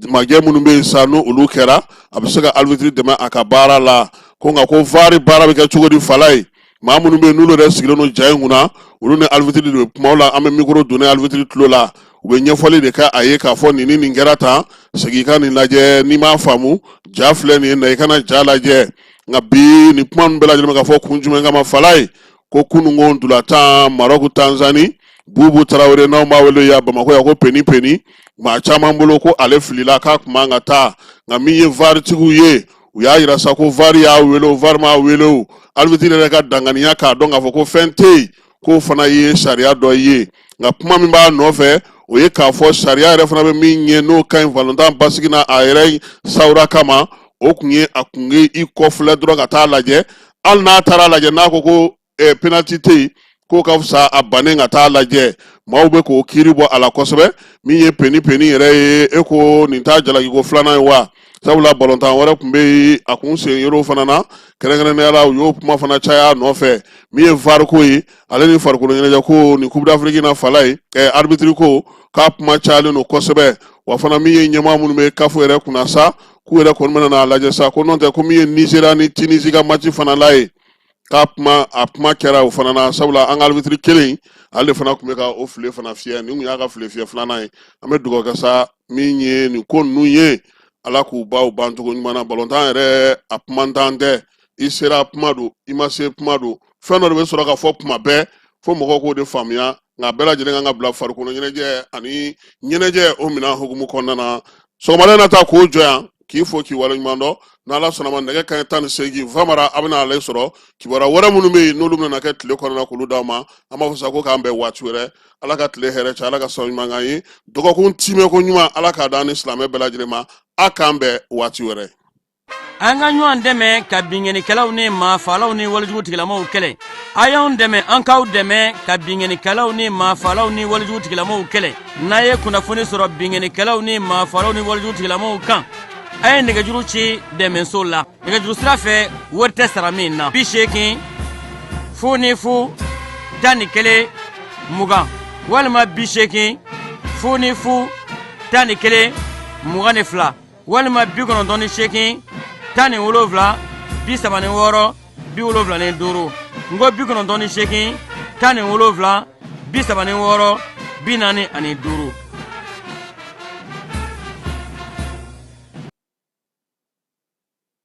majɛ minnu bɛ yen sa n' olu kɛra a bɛ se ka arbitre dɛmɛ a ka baara la ko nka ko vari baara bɛ kɛ cogo di Falaye maa minnu bɛ yen n'olu yɛrɛ sigilen don ja in kunna olu ni arbitre de bɛ kuma la an bɛ mikoro donnen arbitre tulo la u bɛ ɲɛfɔli de kɛ a ye k'a fɔ nin ni nin kɛra tan segin i ka nin lajɛ n'i m'a faamu ja filɛ nin ye na i ka na ja lajɛ nka bi nin kuma nin bɛɛ lajɛlen bɛ ka fɔ kun jumɛn kama Falaye ko kununko ntolatan marɔku tanzani bubu tarawele n'anw b'a wele yan bamakɔ yan ko peni peni maa caman bolo ko ale filila k'a kun man ka taa nka min ye varitigiw ye u y'a yira sa ko vari y'a wele o vari m'a wele o alibitiri yɛrɛ ka danganiya k'a dɔn k'a fɔ ko fɛn tɛ yen k'o fana ye sariya dɔ ye nka kuma min b'a nɔfɛ o ye k'a fɔ sariya yɛrɛ fana bɛ min ɲɛ n'o ka ɲi balontan basigi na a yɛrɛ sawura kama o kun ye a kun ye i kɔfilɛ dɔrɔn ka taa lajɛ hali n'a taara lajɛ n'a ko ko eh, penalty tɛ yen k'o ka fisa a bannen ka taa lajɛ maaw bɛ k'o kiiri bɔ a la kosɛbɛ min ye peni peni yɛrɛ ye e ko nin t'a jalakiko filanan ye wa sabula balontan wɛrɛ tun bɛ yen a kun sen yɔrɔw fana na kɛrɛnkɛrɛnnenya la u y'o kuma fana caya nɔfɛ min ye var ko ye ale ni farikolo ɲɛnajɛ ko nin coupe d'afrique na Falaye ɛ arbitre ko k'a kuma cayalen don kosɛbɛ wa fana min ye ɲɛmaa minnu bɛ CAF yɛrɛ kunna sa k'u yɛrɛ kɔni bɛna n'a lajɛ sa ko n'o tɛ ko min ye nizeriya ni tinisi ka mati fana la ye k'a kuma kɛra o fana na sabula an ka arbitre kelen ale de fana tun bɛ ka o file fana fiyɛ nin tun y'a ka file fiyɛ filanan ye an bɛ dugawu kɛ sa min ye nin ko ninnu ye ala k'u ban bancogo ɲuman na balontan yɛrɛ a kumantan tɛ i sera kuma don i ma se kuma don fɛn dɔ de bɛ sɔrɔ ka fɔ kuma bɛɛ fo mɔgɔw k'o de faamuya nka bɛɛ lajɛlen kan k'a bila farikolo ɲɛnajɛ ani ɲɛnajɛ o minɛn hukumu kɔnɔna na sɔgɔmada na ta k'o jɔ yan k'i fo k'i waleɲuman dɔn n'ala sɔnna a ma nɛgɛ kaɲɛ tan ni seegin famara a bɛna ale sɔrɔ kibaruya wɛrɛ minnu bɛ yen n'olu bɛna kɛ tile kɔnɔna k'olu d'aw ma an b'a fɔ sa ko k'an bɛn waati wɛrɛ ala ka tile hɛrɛ caya ala ka sabu ɲuman k'an ye dɔgɔkun timɛ ko ɲuman ala k'a d'an ni silamɛ bɛɛ lajɛlen ma a k'an bɛn waati wɛrɛ an ka ɲɔgɔn dɛmɛ ka binkannikɛlaw ni maafalaw ni walejugu tigilamaw kɛlɛ a y'anw dɛmɛ an k'aw dɛmɛ ka binkannikɛlaw ni maafalaw ni walejugu tigilamaw kɛlɛ n'a ye kunnafoni sɔrɔ binkannikɛlaw ni maafalaw ni walejugu tigilamaw kan a ye nɛgɛjuru ci dɛmɛso la nɛgɛjuru sira fɛ wari tɛ sara min na bi seegin fu ni fu tan ni kelen mugan walima bi seegin fu ni fu tan ni kelen mugan ni fila walima bi kɔnɔntɔn ni seegin tan ni wolonwula bi saba ni wɔɔrɔ bi wolonwula ni duuru n ko bi kɔnɔntɔn ni seegin tan ni wolonwula bi saba ni wɔɔrɔ bi naani ani duuru